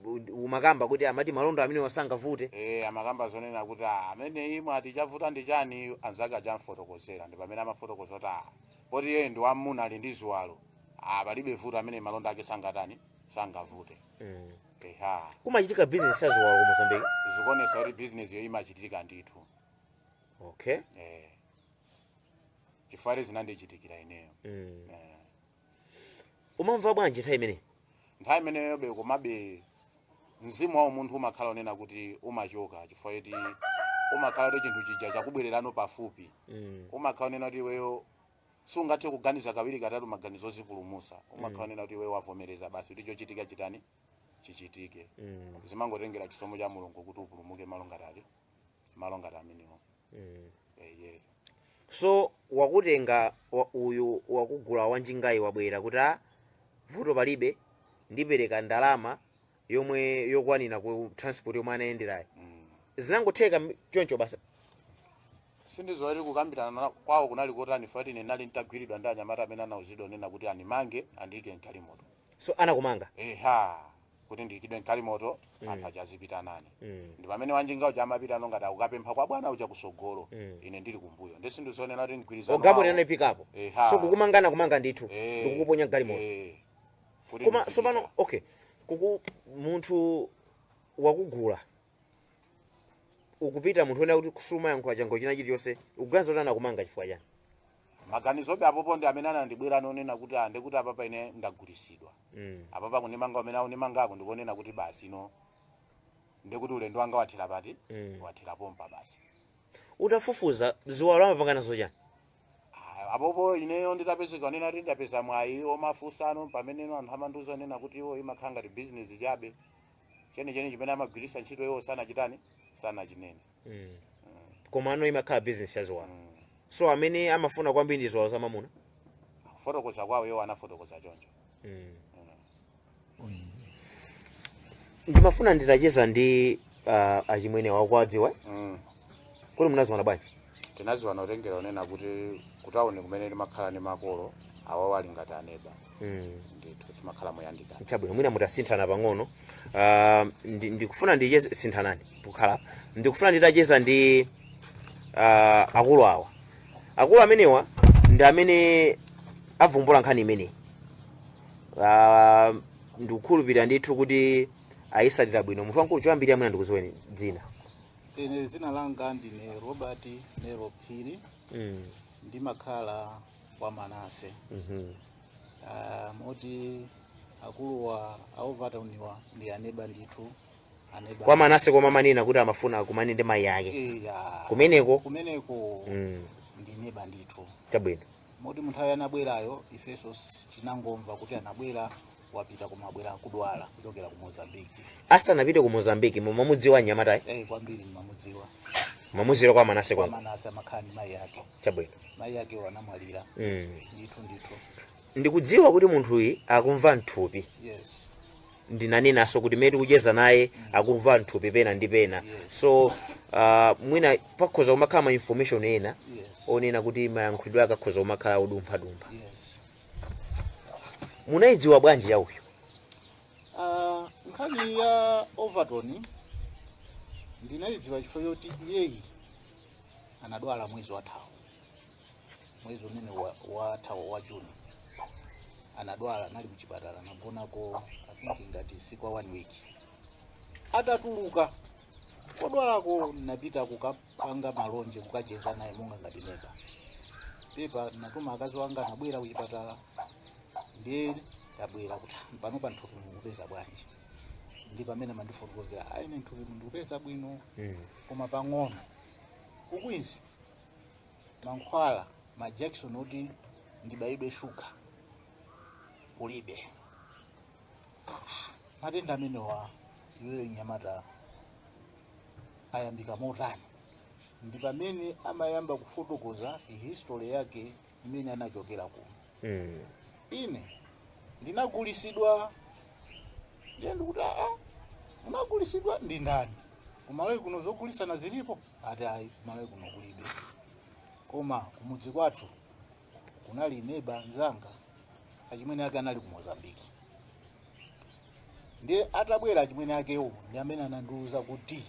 u- umakamba kuti amati malonda amenewa sangavute e amakamba zonena kuti "Ah, ameneyi mwati chavuta ndi chani anzake aja amfotokozera ndi pamene amafotokoza kuti "Ah, poti iyeyu ndi wamuna ali ndi ziwalo ah, palibe vuto ameneyu malonda ake sangatani sangavute Mm. eha kumachitika bizinesi ya ziwalo ku mozambiki zikuonesa kuti bizinesiyo imachitika ndithu okay eh. chifukwa zinandichitikira ineyo Mm. eh. umamva bwanji nthawi imeneyi nthawi imeneyobe komabe mzimu wa umunthu umakhala wonena kuti umachoka chifukwa choti umakhala kuti chinthu chija chakubwererano pafupi mm. umakhala wonena kuti iweyo sungathe kuganiza kawiri katatu maganizo ozipulumusa umakhala wonena kuti iweyo wavomereza basi kuti chochitika chitani chichitike mm. zimangotengera chisomo cha mulungu kuti upulumuke malo ngati ati malo ngati amenewo Eye. so wakutenga wa, uyu wakugula wanjingayi wabwera kuti a vuto palibe ndipereka ndalama yomwe yokwanira ku transport yomwe anayendera yo Mm. zinangotheka m- choncho basi sindidziwa kukambirana na- kwawo kunali kotani pakuti ine ndinali nditagwiridwa ndi anyamata amene anauzidwa kunena kuti andimange andiyike mgalimoto so anakumanga eha kuti ndiikidwe mgalimoto Mm. anthu aja azipita nane Mm. ndi pamene wanjinga uja amapitano ngati akukapempha kwa bwana uja kusogolo Mm. ine ndili kumbuyo ndi sindizonena kuti mgwirizano ogamulira wawo- ndinafikapo Eha. so kukumangana kumanga ndithu Eh, ndikukuponya mgalimoto eh, kuti koma ndizipita. sopano okay kuku munthu wakugula ukupita munthu kunena kuti sumayankhula chako china chilichonse ukuganiza kuti anakumanga chifukwa chani maganizobe apopo ndi amene anandibwera anonena kuti ande kuti apapa ine ndagulisidwa mm. apapa kundimanga kumene akundimangako ndikonena kuti basi ine ndikuti ulendo wanga wathera pati mm. wathera pompa basi utafufuza ziwalo amapanga nazo chani Ah, apopo ineyo nditapezeka kunena kuti ndapeza mwayi omafunsana pamene ino anthu amandiuza kunena kuti iwo imakhala ngati bizinesi chabe chenicheni chimene amagwiritsa ntchito iwo sanachitani sanachinene mm. komano imakhala business yaziwalo mm. so amene amafuna kwambiri ndi ziwalo zamamuna kufotokoza kwawo iwo anafotokoza choncho mm. mm. ndimafuna nditacheza ndi uh, achimwenewa akuwadziwa mm. kuti munaziwana bwanji tinaziwana kutengera kunena kuti kutauni kumene timakhala ndi makolo awawo ali ngati aneba mm. ndithu timakhala moyandikana chabwino mwina mutasinthana pang'ono Ah, ndi- ndikufuna ndicheze sinthanani pokhala apa. ndikufuna nditacheza ndi ah, akulu awa akulu amenewa ndi amene avumbula nkhani imeneyi Ah, ndikukhulupirira ndithu kuti ayisatira bwino munthu wamkulu choyambirira mwina ndikuziweni dzina ine dzina langa ndine robert nero phiri mm. ndimakhala kwa manase Mhm. Ah, moti akuluwa aovataniwa ndi aneba ndithu aneba kwa manase koma amanena kuti amafuna akumane ndi mayi ake Eya. kumeneko kumeneko Mm, ndi neba ndithu chabwino moti munthawi anabwerayo ifenso s- tinangomva kuti anabwera wapita koma abwera akudwala kuchokera ku mozambiki asanapite ku mozambiki mumamudziwa mnyamatayi eh kwambiri mmamudziwa ndimamudziwira kwa manase kwa kwangu manase amakhala ndi mayi ake chabwino mayi akewo anamwalira mm. ndithu ndithu ndikudziwa kuti munthuyi akumva mthupi yes ndinanenanso kuti mmene tikucheza naye akumva mthupi pena ndi pena so uh, mwina pakhoza kumakhala ma information ena yes onena kuti mayankhulidwe ake akhoza kumakhala odumphadumpha yes munayidziwa bwanji ya uyu Ah, nkhani ya overton ndinayidziwa chifukwa choti iyeyi anadwala mwezi wathawo mwezi umene wa- wathawo wa juni anadwala anali kuchipatala anagonako afinki ngati si kuwa one week atatuluka kodwalako ndinapita kuka- panga malonje kukacheza naye monga ngati neba pepa natuma akazi wanga anabwera kuchipatala ndiye ntabwera kuti "Ah, panopa nthupi mukupeza bwanji ndi pamene amandifotokozera ayi ine nthupi mu ndikupeza bwino koma pang'ono ku Kwinzi mankhwala majakisoni oti ndibayidwe shuga kulibe matenda amenewa iweyo mnyamata anayambika motani ndi pamene amayamba kufotokoza history yake imene anachokera kuno Mm. ine ndinagulisidwa ndiye ndikuti aa munagulisidwa ndi ndani kumalawi kuno zogulisana zilipo ati ayi kumalawi kuno kulibe koma kumudzi kwathu kunali neba mzanga achimwene ake anali ku mozambiki ndiye atabwera achimwene akewo ndi amene anandiwuza kuti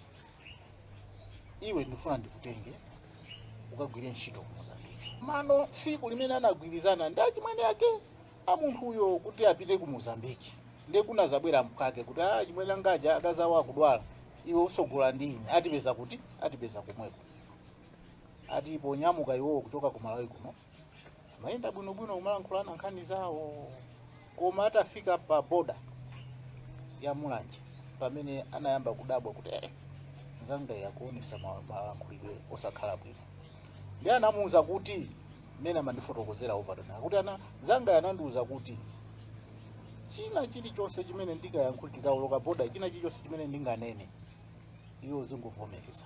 iwe ndifuna ndikutenge ukagwire ntchito ku mozambiki nano tsiku limene anagwirizana ndi achimwene ake a munthuyo kuti apite ku mozambiki ndiye kunazabwera mphwake kuti a achimwene angaja akazawo akudwala iwe usogola ndi ine atipeza akuti atipeza komweko ati ponyamuka iwowo kuchoka ku malawi kuno amayenda bwinobwino kumalankhulana nkhani zawo koma atafika pa boda ya mulanje pamene anayamba kudabwa kuti eh, nzanga uyu akuonesa ma- malankhulidwe osakhala bwino ndi anamuwuza kuti mmene amandifotokozera overton akuti ana nzanga anandiwuza kuti china chilichonse chimene ndikayankhule ndikawoloka boda china chilichonse chimene ndinganene iwe uzingovomereza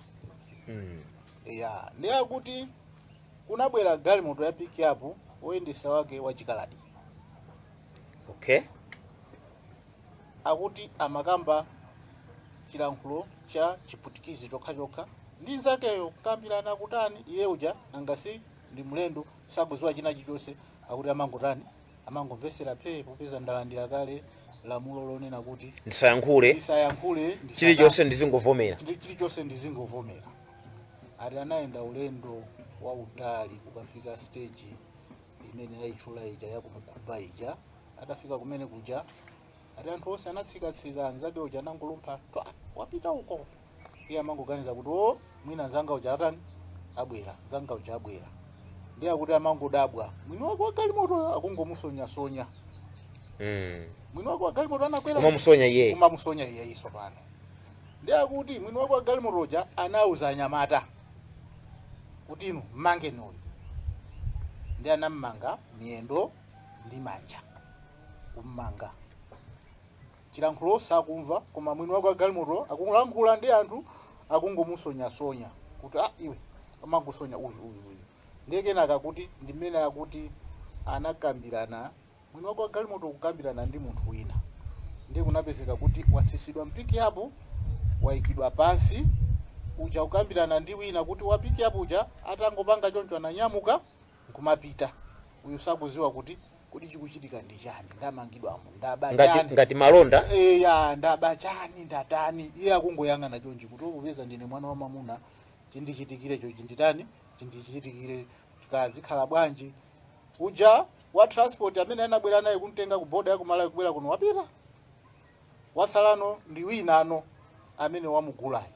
Mm. ya ndi akuti kunabwera galimoto ya pikiapu woyendesa wake wa chikaladi okay akuti amakamba chilankhulo cha chiputikizi chokhachokha ndi nzakeyo kukambirana kutani iye uja nangasi ndi mlendo sakudziwa china chilichonse akuti amangotani amangomvesera phee popeza ndalandira kale lamulo lonena kuti ndisayankhule ndisayankhule ndisaka- chilichonse ndizingovomera ndi chilichonse ndizingovomera ati anayenda ulendo wautali kukafika stage imene ayitchula ija yakumukhupa ija atafika kumene kuja ati anthu onse anatsikatsika mnzake uja anangolumpha twa wapita uko iye amangoganiza kuti o mwina anzanga uja atani abwera anzanga uja abwera ndiye akuti amangodabwa mwini wake wa galimotoyo akungomusonyasonya Mm. mwini wake wa galimoto anakwera Umamusonya iyeyo. umamusonya iyeyi tsopano Ndiye akuti mwini wake wa galimoto uja anauza anyamata kuti inu mmangeni uyu. Ndiye anammanga miyendo ndi manja, kummanga. Chilankhulo sakumva, koma mwini wake wa galimoto akulankhula ndi anthu akungomusonyasonya kuti ah, iye amangosonya uyu uyu uyu. Ndiye kenaka kuti ndi mmene akuti anakambirana Mwini wake wa galimoto kukambirana ndi munthu wina ndiye kunapezeka kuti watsitsidwa m'pick up waikidwa pansi uja kukambirana ndi wina kuti wa pick up uja atangopanga choncho ananyamuka nkumapita uyu sakuziwa kuti kodi chikuchitika ndi chani ndamangidwamo ndaba ngati, chani ngati malonda eya ndaba chani ndatani iye akungoyang'ana chonchi kuti popeza ndine mwana wa mamuna chindichitikire choti chinditani chindichitikire kazikhala bwanji Uja wa transport amene anabwera naye kumtenga ku border ya ku Malawi kubwera kuno wapita. Wasalano ndi winano amene wamugulayu.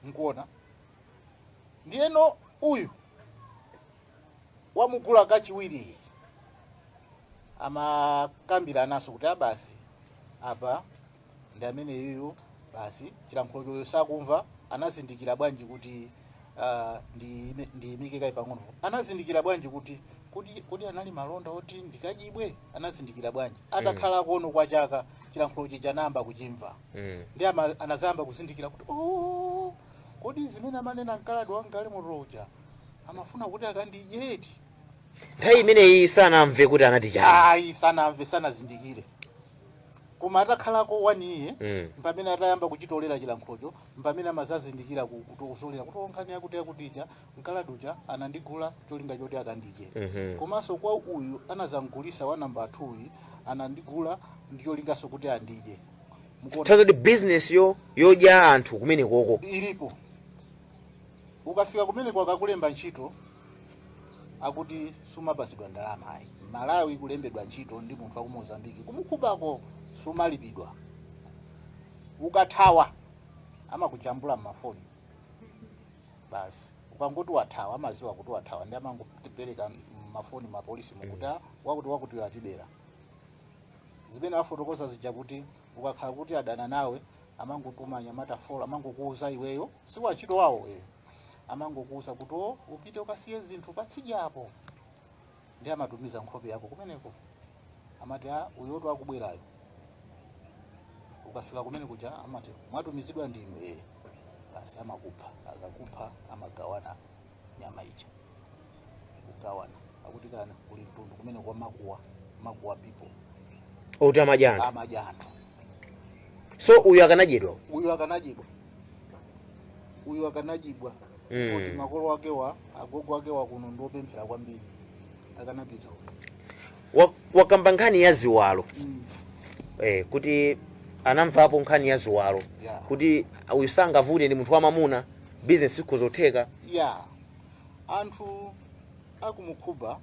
Mukuona? Ndiyeno uyu wamugula kachiwiri amakambiranaso kuti ah basi apa ndi amene iyu basi chilankhulo chawo sakumva anazindikira bwanji kuti ah, ndi- ndiyimike kaye pang'ono anazindikira bwanji kuti kuti kuti anali malonda oti ndikadyedwe anazindikira bwanji atakhala konko kwa chaka chilankhulo chija anayamba kuchimva Mm. ndi ama- anazayamba kuzindikira kuti "Oh, kodi zimene amanena mkaladi wa mgalimoto uja amafuna kuti akandidye nthawi imeneyi sanamve kuti anati chani ayi sanamve sanazindikire koma atakhalako one year Mm. mpamene atayamba kuchitolera chilankhulocho mpamene amazazindikira ku- kuti kutolera kuti oh nkhani yakuti yakuti ija mkaladi uja anandigula cholinga choti akandidye Mhm. komanso kwa uyu anazamgulisa wa namba 2 uyu anandigula ndi cholinganso kuti andidye Mukuona? tsono ati business yo yodya anthu kumene koko ilipo ukafika kumene akakulemba ntchito akuti sumapasidwa ndalama ayi malawi kulembedwa ntchito ndi munthu wakumozambiki ku Mocuba ko sumalipidwa ukathawa amakujambula mmafoni basi ukangoti wathawa amaziwa kuti wathawa ndiye amangopereka mafoni mapolisimu kuti "Ah, wakuti wakuti uyo atibera zimene afotokozazija kuti ukakhala kuti adana nawe amangotuma anyamata folo amangokuuza iweyo si wantchito wawo eh. amangokuuza kuti o upite ukasiye zinthu patsidya apo ndiye amatumiza nkhope yako kumeneko amati a uyoto akubwerayo ukafika kumene kuja amati mwatumizidwa ndinu eee basi amakupha akakupha amagawana nyama ija kugawana akuti kunali mtundu kumene kwa Makuwa makuwa people oti amadya anthu amadya anthu so uyu akanadyedwa uyu akanadyedwa uyu akanadyedwa Mm. kuti makolo ake wa agogo ake wa kuno ndiopemphera kwambiri akanapita uyu. Wa- wakamba nkhani ya ziwalo Mm. eh, kuti anamvapo nkhani ya ziwalo Yeah. kuti uyu sangavute ndi munthu wamamuna bizinesi ikhozotheka ya Anthu aku Mocuba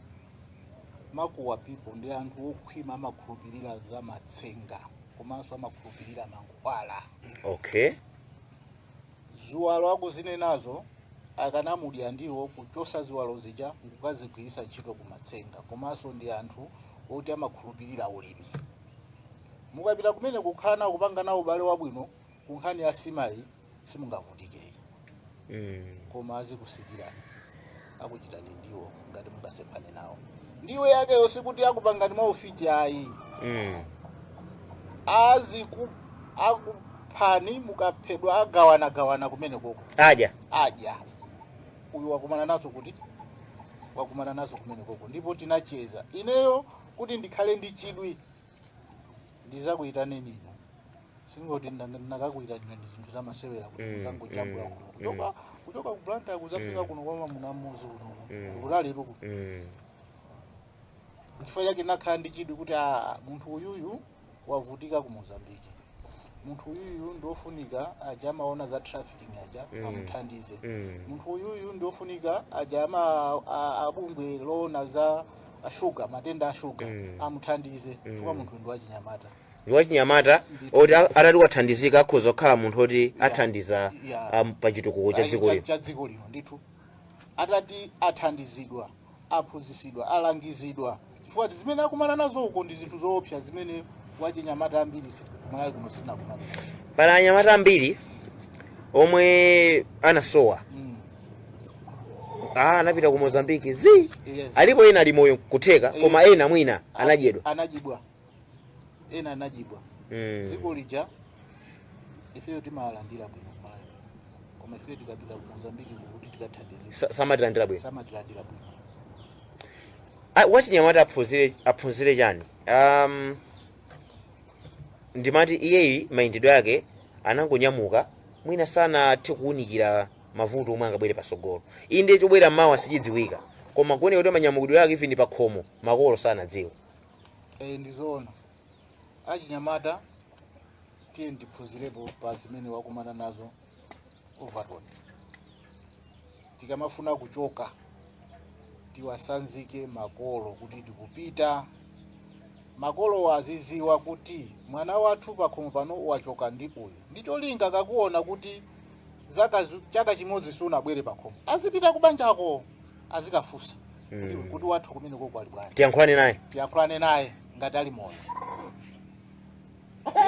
makuwa people ndi anthu okhwima amakhulupirira za matsenga komanso amakhulupirira mankhwala okay ziwalo akuzinenazo akanamudya ndiwo kuchosa ziwalo zija nkukazigwiritsa ntchito kumatsenga komanso ndi anthu oti amakhulupirira ulimi mukapita kumeneko kukhala nawo kupanga nawo ubale wabwino ku nkhani ya nsima ayi simungavutike ayi mm. koma azikusekerani akuchitani ndiwo ngati mungasemphane nawo ndiwo yakeyo sikuti akupangani maufiti ayi mm. aziku akuphani mukaphedwa agawana gawana kumene koko adya adya uyu wakumana nazo kuti wakumana nazo kumene koko ndipo tinacheza ineyo kuti ndikhale ndi chidwi ndizakuyitaneni inu sikuti ndinakakuyitanirani zinthu zamasewera kuti Mm, muzangojambula mm, kuno kuchoka kuchoka ku blantyre kuzafika Mm. kuno kwa mamuna mmodzi kuno Mm. kutalitu kuno Mm. chifukwa chake nakhala ndi chidwi kuti ah, munthu uyuyu wavutika ku mozambiki munthu uyuyu ndiofunika aja amaona za trafficking aja Mm. amuthandize Mm. munthu uyuyu ndiofunika aja ama a- abungwe loona za shuga matenda a shuga Mm. amuthandize chifukwa munthuyu ndi wachinyamata ndi wachinyamata oti a- atati wathandizika akhoza kukhala munthu oti athandiza Yeah. am- pa chitukuko cha Ayi, dziko lino cha dziko lino ndithu atati athandizidwa aphunzitsidwa, alangizidwa chifukwa ti- zimene akumana nazo uko ndi zinthu zoopsa zimene achinyamata ambiri si- kumalawi kuno sitinakumana pali anyamata ambiri omwe anasowa Mm. ah, anapita ku mozambiki zi Yes. alipo ena ali moyo kutheka koma ena mwina anadyedwa anadyedwa ena anajibwa Eh. dziko lija ifeyo timawalandira bwino kumalawi koma ifeyo tikapita ku mozambiki kuti tikathandizika Sa- samatilandira bwino samatilandira bwino Ah, achinyamata aphunzire aphunzire chani um, ndimati iyeyi mayendedwe ake anangonyamuka mwina sanathe kuwunikira mavuto omwe angabwere pasogolo inde chobwera mawa sichidziwika koma kuoneka kuti manyamukidwe ake even pakhomo makolo sanadziwa Eh, ndi zoona achinyamata tiyeni tiphunzirepo pa zimene wakumana nazo overton tikamafuna kuchoka tiwasanzike makolo kuti tikupita makolowo aziziwa kuti mwana wathu pakhomo pano wachoka ndi uyu ndi cholinga akaona kuti zaka zu- chaka chimodzi sunabwere pakhomo azipita kubanjako azikafunsa kuti kuti wathu kumene koko ali bwanji tiyankhulane naye tiyakhulane naye ngati ali moyo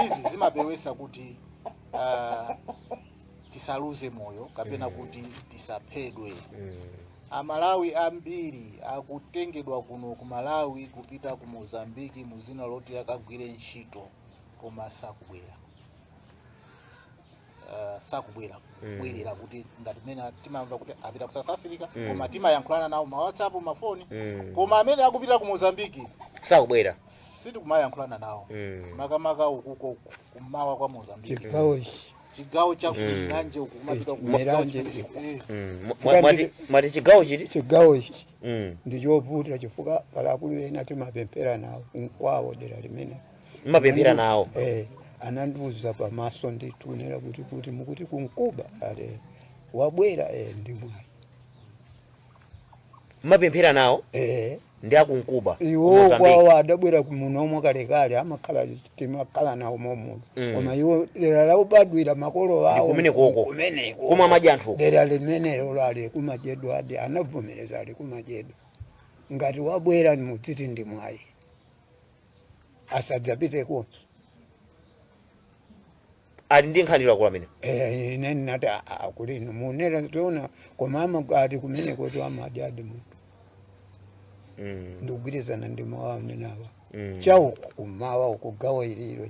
izi zimapewesa kuti ah, tisaluze moyo kapena kuti tisaphedwe amalawi ambiri akutengedwa kuno ku malawi kupita ku mozambiki mu dzina loti akagwire ntchito koma sakubwera uh, sakubwera kubwerera kuti ngati mmene timamva kuti apita ku south africa koma timayankhulana nawo ma whatsapp mafoni Mm. koma amene akupita ku mozambiki sakubwera sitikumayankhulana nawo Mm. makamaka ukuko kummawa kwa mozambiki chigawo ichi chigawo cha kuMilanje uku kumapita ku Milanje. chigawo cha- eh. Mm. Mwa- mwa- mwati- mwati chigawo chiti chigawo ichi Mm. ndichovuta chifukwa pali akulu ena timapemphera nawo kwawo dera limene mmapemphera nawo eh, anandiuza pamaso ndithu nera kuti kuti mukuti kuNkuba ale wabwera eh, ndi mwayi mmapemphera nawo eh, ndi akuNkuba ku iwo Mozambique. kwawo adabwera muno muja kalekale amakhala timakhala nawo momuno Mm. koma iwo dera lobadwira makolo awo kumene koko. kumeneko Kumwe amadya anthu. dera limenelo alikumadyedwadi anavomereza alikumadyedwa ngati wabwera mutiti ndi mwayi asadzapitekonso ali ndi nkhani lakula amene Eh, ine ndinati "Ah, ah, kuli inu munera tiona koma amakati kumene kuti amadyadi munthu Mm, ndikugwirizana ndi mawu amenawa mm. chauku kumawa uku gawo ililo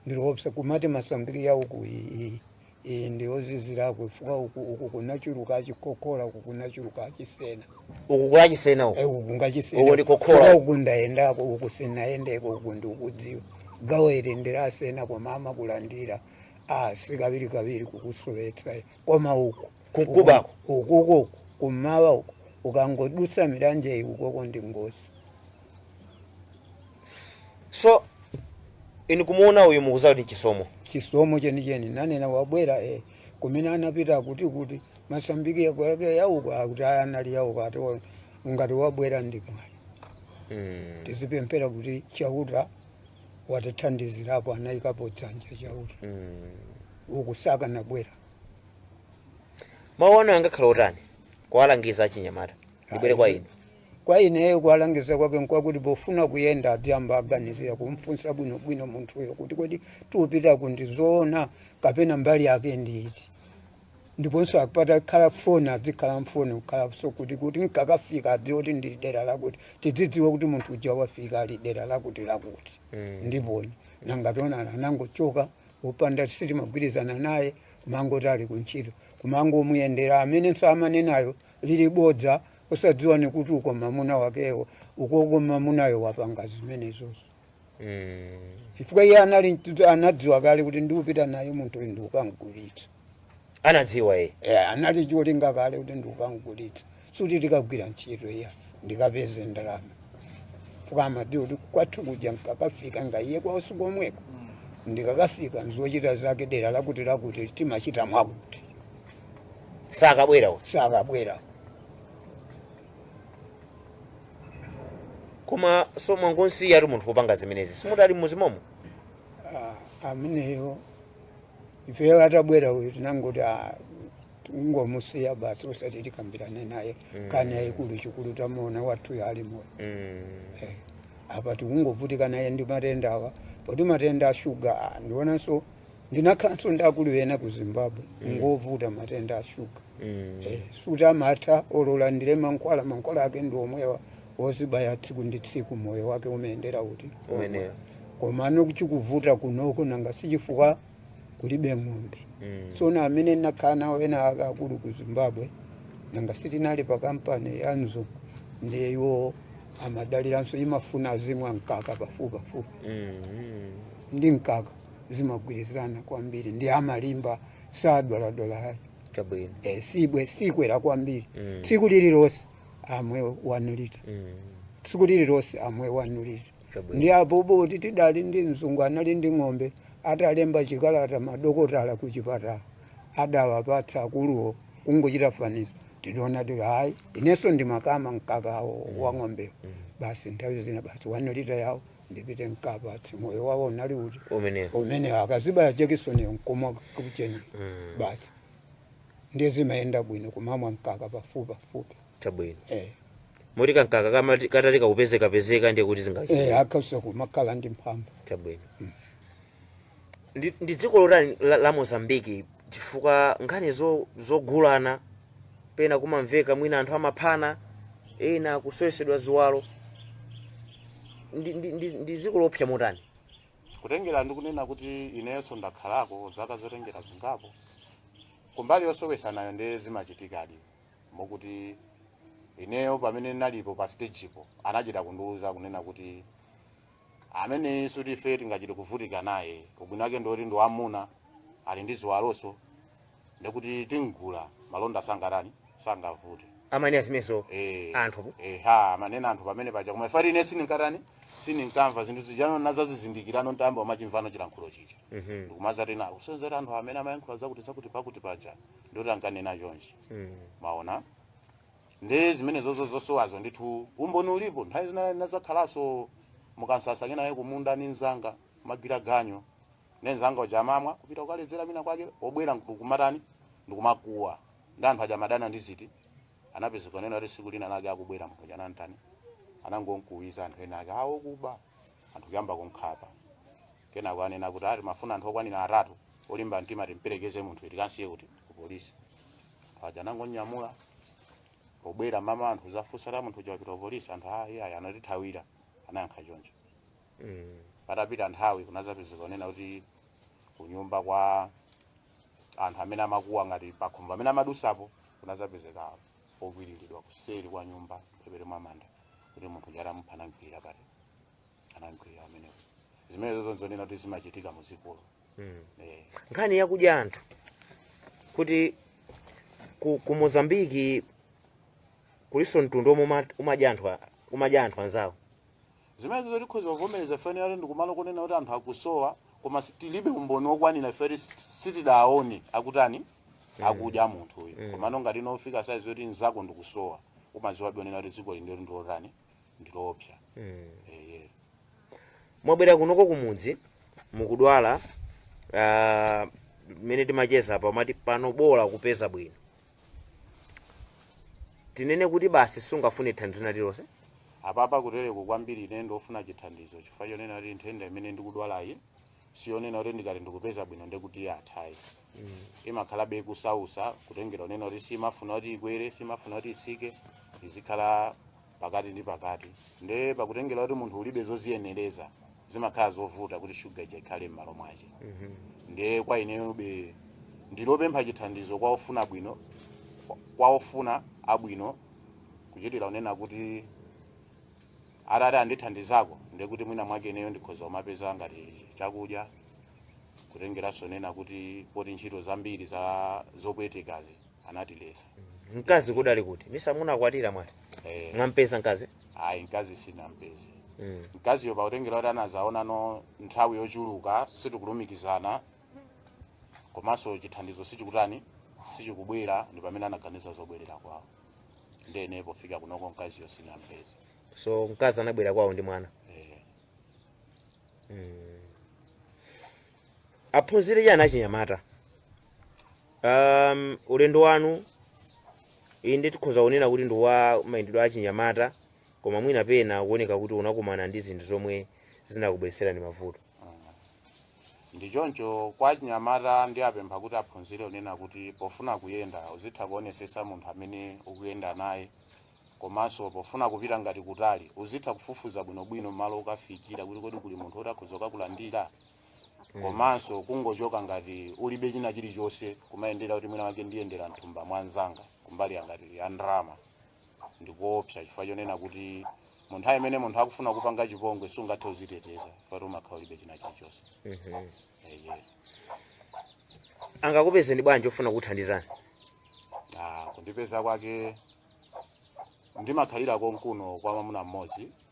ndi loopsa kumati masambiri yauku iyi Iyi ndi yoziziririko chifukwa uku uku kunachuluka achikokola uku kunachuluka achisena uku kuli chisena uku Eh, uku ngachisena Uku ndi kokola. Chifukwa uku ndayendako uku sinayendeko uku ndikudziwa gawo ili ndilasena koma amakulandira ah sikawirikawiri kukusowetsa koma uku Kunkubako. uku uku kumawa uku ukangodutsa Milanje iyi ukoko ndi ngosi so inu kumuona uyu mukuziwa kuti chisomo chisomo chenicheni nanena wabwera e kumene anapita kuti kuti Mozambiki yako yake yauko akuti aya anali yauko ati wa- ngati wabwera ndi mwayi mm. tizipemphera kuti chauta watithandizirapo anayikapo dzanja chauta mm. uku sakanabwera mawu anu angakhala otani kuwalangiza achinyamata ndibwere kwa inu Kwa ineyo kuwalangiza kwake nkwakuti pofuna kuyenda adziyamba aganizira kumfunsa bwinobwino munthuyo kuti kodi tiupita uku ndi zoona kapena mbali yake ndi iti ndiponso akapita akhale foni adzikhala mfoni kukhalanso kuti kuti nkakafika adziwe kuti ndi dera lakuti tidzidziwe kuti munthu uja wafika ali dera lakuti lakuti ndi foni nanga tionana anangochoka opanda sitimagwirizana naye kumangoti ali kuntchito kumangomuyendera amenenso amanenayo lili bodza osadziwa nikuti uko mamuna wakewo ukoko mamunayo wapanga zimenezozo Mm. chifukwa iye anali mtu- anadziwa kale kuti ndiupita naye munthu uyu ndiukamgulitsa anadziwa ye Eh, anali cholinga kale kuti ndiukamgulitsa suti tikagwira ntchito iya ndikapeze ndalama chifukwa amadziwa kuti kwathu kuja nkakafika nga iye kwausi komweko ndikakafika ndi zochita zake dera lakuti lakuti timachita mwakuti sakabwera uyu sakabwera koma so mwangonsiya ati munthu kupanga zimenezi simuti ali mmudzi momo Ah, ameneyo ifeyo atabwera uyu tinangoti ah, tingomusiya basi osati tikambirane naye nkhani yaikulu chachikulu tamuona wathuyo ali moyo Mm. Eh, apa tikungovutika naye ndi matenda awa poti matenda a shuga ah, ndionanso ndinakhalanso ndi akulu ena ku zimbabwe mm. ngovuta matenda a shuga mm. eh, suti amatha ola alandire mankhwala mankhwala ake ndi omwewa ozibaya tsiku ndi tsiku moyo wake umayendera kuti koma ano chikuvuta kunoko nanga sichifukwa kulibe ng'ombe mm. so na amene ndinakhala nawo ena ake akulu ku zimbabwe nanga sitinali pa kampani ya mzungu ndiye iwo amadaliranso imafuna azimwa mkaka pafupi pafupi mm. ndi mkaka zimagwirizana kwambiri ndi amalimba sadwaladwala chabwino e, sibwe sikwera kwambiri Mm. tsiku lililonse amwe one lita Mm. tsiku lililonse amwe one lita Chabwino. ndi apo boti tidali ndi mzungu anali ndi ng'ombe atalemba chikalata madokotala ku chipatala adawapatsa akuluwo kungochita fanizo tidaona tili ayi inenso ndimakama mkakawo wa ng'ombewo basi nthawi zina basi one lita yawo ndipite nkapatse moyo wawo unali uti umenewo umene akazibaya jekisoni nkumwa kucheni Mm. basi ndiye zimayenda bwino kumamwa mkaka pafupi pafupi chabwino eh. moti kankaka kamati- katalika kupezekapezeka ndiye kuti eh, zingachita akausa kumakhala ndi mphamvu chabwino Ndi, ndi dziko lotani la, la Mozambique chifukwa nkhani zo, zogulana pena kumamveka mwina anthu amaphana ena kusowetsedwa ziwalo ndi, ndi, ndi, ndi dziko loopsa motani kutengera ndi kunena kuti inenso ndakhalako zaka zotengera zingapo kumbali yosowesanayo nde zimachitikadi mokuti ineyo pamene ndinalipo pa stagepo anachita kundiwuza kunena kuti Ameneyi suti ife tingachite kuvutika naye, ubwino wake ndi woti ndi wam'muna, ali ndi ziwaloso, ndi kuti tim'gula, malonda sangatani, sangavute. Amanena zimenezo Eh, anthu. eha, amanena anthu pamene paja, koma ife ine sininkatani, sininkamva zinthu zijano nazazizindikirano ntayamba kumachimvano chilankhulo chija. Mhm. Ndikumazatanthauzira anthu amene amayankhula zakuti zakuti pakuti paja, ndoti ankanena chonchi. Mm. Maona? nde zimenezozo zosowazo ndithu umboni ulipo nthawi zina tinadzakhalaso mukansasa kenaye kumunda ni nzanga timagwira ganyo nde nzanga uja amamwa kupita kukaledzera kwina kwake obwera nkukumatani ndikumakuwa ndi anthu aja amadana ndi ziti anapezeka kunena kuti tsiku lina lake akubwera munthu uja anantani anangonkuwira anthu ena ake awo kuba anthu kuyamba kunkhapa Kenako anena kuti ah, timafuna anthu okwanira atatu olimba mtima timperekeze munthu tikansiye kuti ku polisi. Pajapo anangomunyamula pobwera mmawa anthu adzafunsa kuti munthu uja wapita ku polisi anthu ah, iye ayi anatithawira anayankha choncho. Patapita nthawi kunadzapezeka onena kuti kunyumba kwa anthu amene amakuwa ngati pakhumbo amene amadusapo kunadzapezeka okwiriridwa kuseri kwa nyumba mphepete mwa manda kuti munthu uja atamupha anamkwirira pati anamkwirira pamenepo zimenezo zosonyeza kuti zimachitika muzikolo mm. eh. nkhani yakudya anthu kuti ku, ku mozambiki kuliso mtundu omwe umadya anthu umadya anthu anzawo zimenezo tikhoza kuvomereza chifukwa ndikumalo konena kuti anthu akusowa koma tilibe umboni wokwanira feri sitidaone akutani mm. akudya munthu uyu mm. komano ngati nofika saizi yoti nzako ndikusowa umadziwabe kunena kuti dziko limeneli ndi lotani ndi loopsa eye mwabwera kunoko kumudzi mukudwala ah, mmene timacheza apa mati pano bola kupeza bwino tinene kuti basi sungafune thandizo lina lililonse apapa kutereku kwambiri ine ndofuna chithandizo chifukwa chonena kuti nthenda imene ndikudwalayi siyonena kuti ndikati ndikupeza bwino ndekuti athayi imakhalabe ikusausa kutengera kunena kuti simafuna kuti ikwere simafuna kuti isike izikhala pakati ndi pakati nde pakutengera kuti munthu ulibe zoziyenereza zimakhala zovuta kuti shuga ija ikhale m'malo mwake nde kwa ineyobe ndilopempha chithandizo kwa ofuna bwino kwa ofuna abwino kuchitira unena kuti atati andithandizako ndekuti mwina mwake ineyo ndikhoza kumapeza ngati chakudya kutengeranso nena kuti poti ntchito zambiri zopwetekazi anatiletsa mkazi kudali ku Tunisia munakwatira mwati eh, mwampeza mkazi ayi mkazi sinampeze mm. mkaziyo pakutengera kuti anazaonano nthawi yochuluka sitikulumikizana komanso chithandizo sichikutani sichikubwera ndi pamene anaganiza zobwerera kwawo ndene pofika kunoko mkaziyo sinampezenso mkazi anabwera kwawo anabwera kwawo ndi mwana eh, aphunzire chani achinyamata Um, ulendo wanu inde tikhoza kunena kuti ndi wa mayendedwe achinyamata koma mwina pena kuoneka kuti munakumana ndi zinthu zomwe zinakubweretserani mavuto ndi choncho kwa achinyamata ndiwapempha kuti aphunzire unena kuti pofuna kuyenda uzitha kuonesesa munthu amene ukuyenda naye komanso pofuna kupita ngati kutali uzitha kufufuza bwinobwino malo ukafikira kuti kodi kuli munthu woti akhoza kukakulandira komanso kungochoka ngati ulibe china chilichonse kumayendera kuti mwina wake ndiyendera mthumba mwa nzanga kumbali ngati ya ndalama ndi koopsa chifukwa chonena kuti mu nthawi imene munthu akufuna kupanga chipongwe sungathe uziteteza chifukwa umakhala ulibe china chilichonse Eye. angakupezeni bwanji ofuna kuthandizani Ah, kundipeza kwake ndimakhalira konkuno kwa mwamuna mmodzi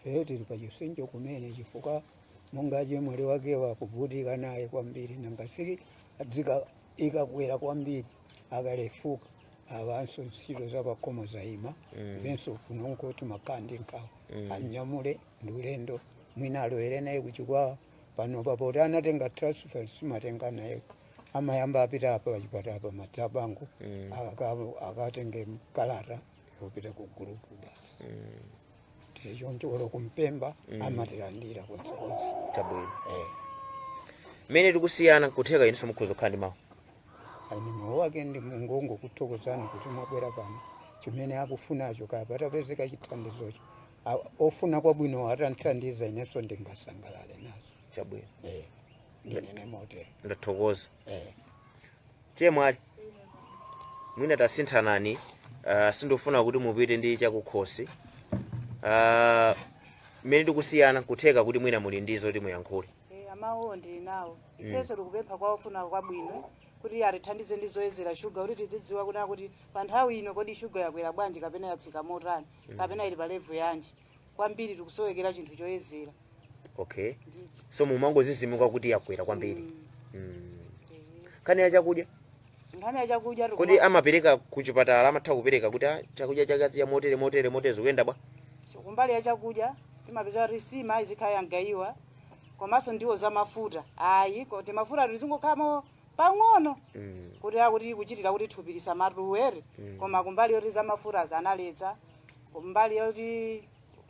Ifeyo tili pa chipsinjo kumene chifukwa monga achemwali wakewo akuvutika naye kwambiri nanga si ikatsika ikakwera kwambiri akalefuka awanso ntchito za pakhomo zaima ifenso kunoko timakhala ndi nkhawa anyamule ndi ulendo mwina alowere naye ku Chikwawa pano papoti anatenga transfer simatenga naye amayamba apita apa pachipatala pa Madziabango akatenge kalata kupita ku gulupu tichoncho basi tichoncho olo kumpemba amatilandira konse konse chabwino Eh, mmene tikusiyana kutheka inunso mukhoza kukhala ndi mawu a ine mawu ake ndingongokuthokozani kuti mwabwera pano chimene akufunacho kaya patapezeka chithandizocho A- ofuna kwabwino atamthandiza inenso ndingasangalale nazo chabwino Eh, ndinene motero ndathokoza Eh, chemwali mwina tasinthanani uh, sindifuna kuti mupite ndi chakukhosi uh, mmene tikusiyana kutheka kuti mwina muli ndi zoti muyankhule Eh, mawuwo ndili nawo ifenso tikupempha kwa ofuna kwabwino kuti atithandize ndi zoyezera shuga kuti tizidziwa kuti akuti pa nthawi ino kodi shuga yakwera bwanji kapena yatsika motani kapena ili pa levulo yanji kwambiri tikusowekera chinthu choyezera okay ndithu so mumangodzidzimuka kuti yakwera kwambiri mm. nkhani ya chakudya nkhani ya chakudya kodi tikuma- amapereka kuchipatala amatha kupereka kuti "Ah, chakudya chake azidya motere motere motere zikuyenda bwanji kumbali ya chakudya timapeza kuti nsima izikhala yamgaiwa komanso ndiwo za mafuta ayi kuti mafuta tizingoikamo pang'ono Mm. kuti akuti kuchitira kuti thupi lisamatuwere koma kumbali yoti za mafuta zanaletsa kumbali yoti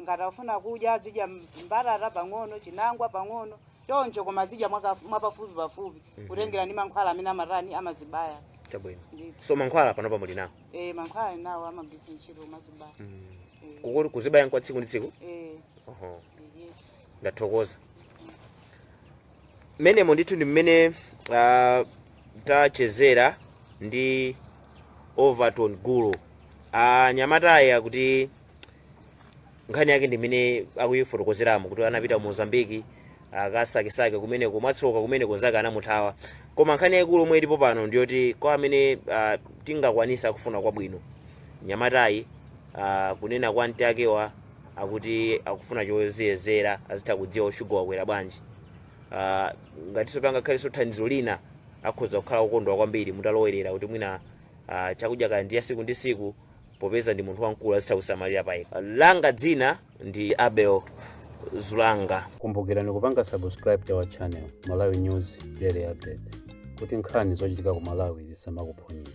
ngati akufuna kudya azidya mbatata pang'ono chinangwa pang'ono choncho koma azidya mwaka- mwapafupipafupi kutengera ndi mankhwala amene amatani amazibaya chabwino ndithu so mankhwala panopa muli nawo e, mankhwala ali nawo amagwiritsa ntchito kumadzibaya e, Kuku- kuzibaya nkwa tsiku ndi tsiku e, Oho, e, ndathokoza Mmenemo ndithu ndi mmene ah, tachezera ndi Overton Gulu. Mnyamatayu akuti nkhani yake ndi imene akuyifotokozeramo kuti anapita mu Mozambique akasakesakeko kumeneko mwatsoka kumeneko anzake anamuthawa. Koma nkhani yaikulu yomwe ilipo pano ndi yoti kwa amene ah, tingakwanitse akufuna kwabwino. Mnyamatayu ah, kunena kwa mtsi akewa akuti akufuna choziyezera azitha kudziwa kuti shuga wakwera bwanji Ah, ngatinso pangakhalenso thandizo lina akhoza kukhala wokondwa kwambiri mutalowerera kuti mwina ah, chakudya kaya ndi cha tsiku ndi tsiku popeza ndi munthu wamkulu azitha kusamalira payekha langa dzina ndi abel zulanga kumbukirani kupanga subscribe to our channel malawi news daily updates kuti nkhani zochitika ku malawi zisamakuphonyeni